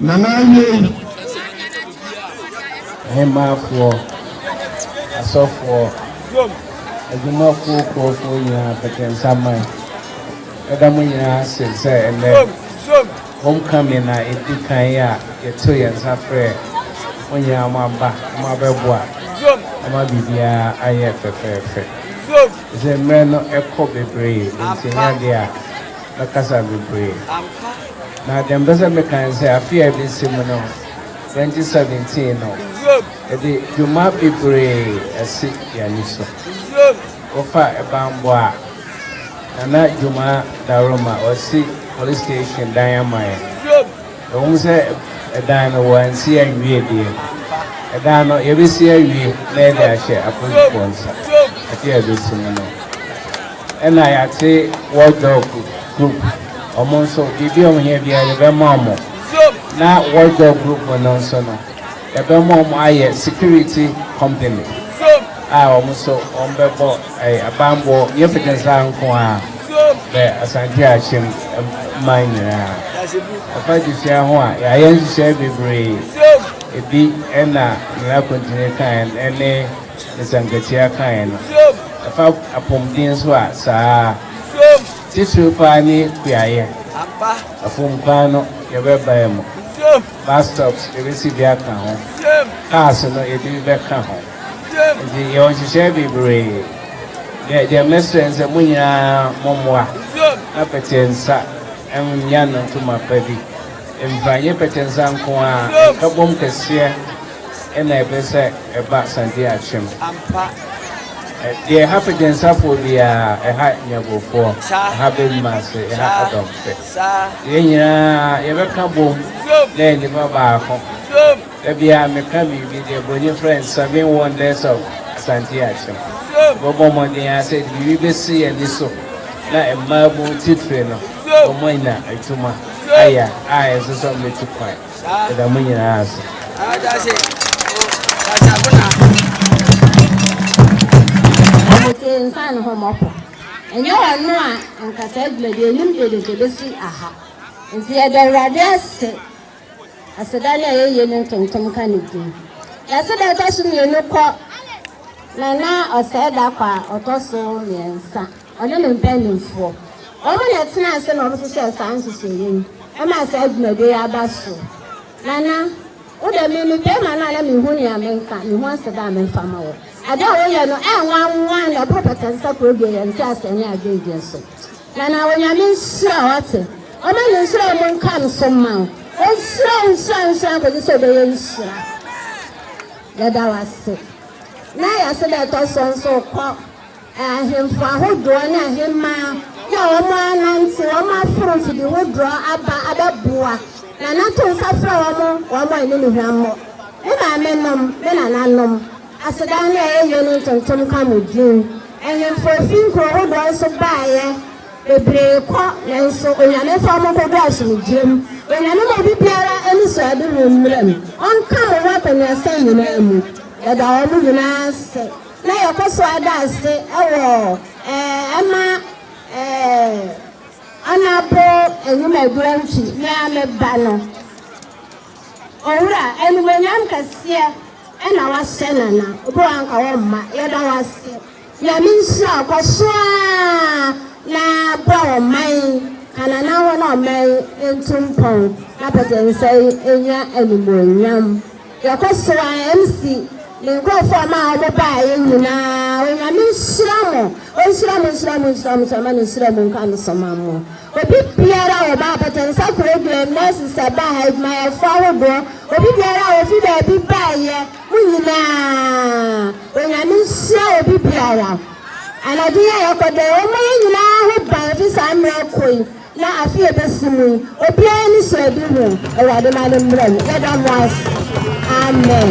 Speaker 1: Nana awiei.
Speaker 11: Ahemmafoɔ, asɔfoɔ, adwumakuo kuofoɔ nyinaa pɛtɛnsaman, mɛda mo nyinaa ase sɛ ɛnnɛ homecoming na ɛdi kan yi a yɛto yɛn nsa frɛ mo nyinaa moaba na moabɛboa ama biribiara ayɛ fɛfɛɛfɛ. Dze mbrɛ no kɔ beberee ntsi nnyɛ adze a mɛkasa beberee. Na dɛm mpɛ dɛ mekã no sɛ afe a ebesi mu no, twenty seventeen no, yɛdze dwuma beberee esi hɛn so. Wɔfa bambɔ a, Nana Dwuma Daroma ɔsi Police Station dan ama hɛn. Ɛwom sɛ dan no wɔansi anwie deɛ, ɛdan no yɛbɛsi awie na yɛde ahyɛ apolisifoɔ nsa sɛ yɛbɛsini no. Ɛna yɛate Watchdog group, wɔn nso biribi a wɔhia biara yɛbɛma wɔn. Na Watchdog group no nso no, Yɛbɛma wɔn ayɛ security company a wɔn nso wɔbɛbɔ banbɔ nyɛ Fitinsaa nko ara bɛ Asante Akyem man nyinaa. Ɛfa adesua ho a, yɛayɛ nhyehyɛe bebree. Ebi na Nana Akontini kaeɛ no ne Mister Nketiah kaeɛ no. Ɛfa apɔmuden nso a, saa ara. Titire pa ara ne kuayɛ. Afuom kwan no, yɛbɛbae mu. bus stops ebesi bi aka ho, cars no ebi bɛka ho. Nti yɛwɔ nhyehyɛɛ bebree. Deɛ deɛ mɛsrɛ nsɛ mo nyinaa mo mmoa na pɛteɛ nsa ɛnya nantu ma pa bi mfra nye pɛteɛ nsa nko ara nkabom kɛseɛ ɛna ɛpɛ sɛ ɛba Santen Akyem. Deɛ ɛha pɛteɛ nsafoɔ biara ɛha Nyabofoɔ, ɛha Bemmaase, ɛha Adomfe. Saa. Yɛn nyinaa yɛbɛka bom. Na nnipa baako. Ebia meka biribi deɛ Broni frɛ no seven wonders of Asante Akyem. Yɛbɛbɔ mmɔden ara sɛ yɛde biribi bɛsi yɛn ani so na mmaabu titire no wɔanya adwuma ayɛ a ɛnsɛ sɛ wɔtu kwan. Yɛda mo nyinaa ase. Ɔmo te nsa
Speaker 12: ne ho mmɔpɔ. Ɛnyɛ ɔno a anka saa dwumadi anim dede de besi aha. Enti yɛda Awurade ase aseda no a yɛyɛ mu ntontom ka ne din. Yɛase da ɛtɔ so mmienu kɔ Nana Ɔsɛe Dakwaa a ɔtɔ so mmiɛnsa, ɔne ne mpanimfoɔ. Wɔn na ɛtenaa ase na wɔhyehyɛɛ saa nhyehyɛeɛ yi, ɛmaa saa dwumadi yi aba so. Nana. Wo dɛ, me mepɛ ma no a na minhu nea menka, minhu aseda a memfa mma wo. Ade a woyɛ no, ɛnwanwan na ɛboro batansa kuroduo, yɛ nteaseɛ ne adwendwen so. Na na Onyame nhyira wo, ɔte? Ɔma ne nhyira a emu nka no so mma wo. Ɔnhyira wo, nhyira wo, nhyira wo kɔsi sɛ wobɛyɛ nhyira. Yɛda wo ase. Na yɛase dɛ ɛtɔ so nso kɔ. Ahemfo ahodoɔ ne ahemmaa ne a wɔn anante wɔn aforo mfidi hodoɔ aba abɛboa na na to nsa frɛ wɔn wɔn a ɛne ne hwammɔ. Me maame nom, me nana nom, asedan ne ɛyɛ yie ne ntontom nka mo din. Ahemfo ɛfiri nkuro hodoɔ nso baeɛ bebree kɔ nanso Onyame mfa wɔn nkɔgu asomdwoeɛ mu. Onyame ma obi biara ani so ɛde ho mmram. Ɔnka mo ho akɔneasa nyinaa mu. Yɛda wɔn nyinaa ase. na yɛkɔ so ara da ase wɔ ɛma anadwo anwumadu akyi me ara me ba no. Owura, animuonyam kɛseɛ na woahyɛ Nana, obi wɔ hɔ a anka wɔmma. Yɛda wo ase. Nyame nhyira wo. Kɔ so ara na boa ɔman yi. Ka Nana ho na ɔman yi ntu mpɔn na Pɔtɛnsa yi nya animuonyam. Yɛkɔ so a MC ne nkurɔfoɔ a ɔmaa wɔn baeɛ nyinaa Onyame nhyira mo Ɔnhyira mo nhyira mo nhyira mo Hyɛmane nhyira mo nka ne so ma mo Obi biara a ɔbaa Port Nsa Kurobɛn Nurses ɛbaa ha Adwumayɛfoɔ ahodoɔ Obi biara a ɔfiri baabi baeɛ Mo nyinaa Onyame nhyira obi biara Anadwo yi a yɛkɔ dɛ Wɔmmɔ yɛn nyinaa ho ban ɛfiri saa mmerɛ kɔ yi. Na afe a ɛbɛsi mu yi, obiara ani sɔ adi ho. Awurade ma no mmra mu. Yɛda mo ase. Amen.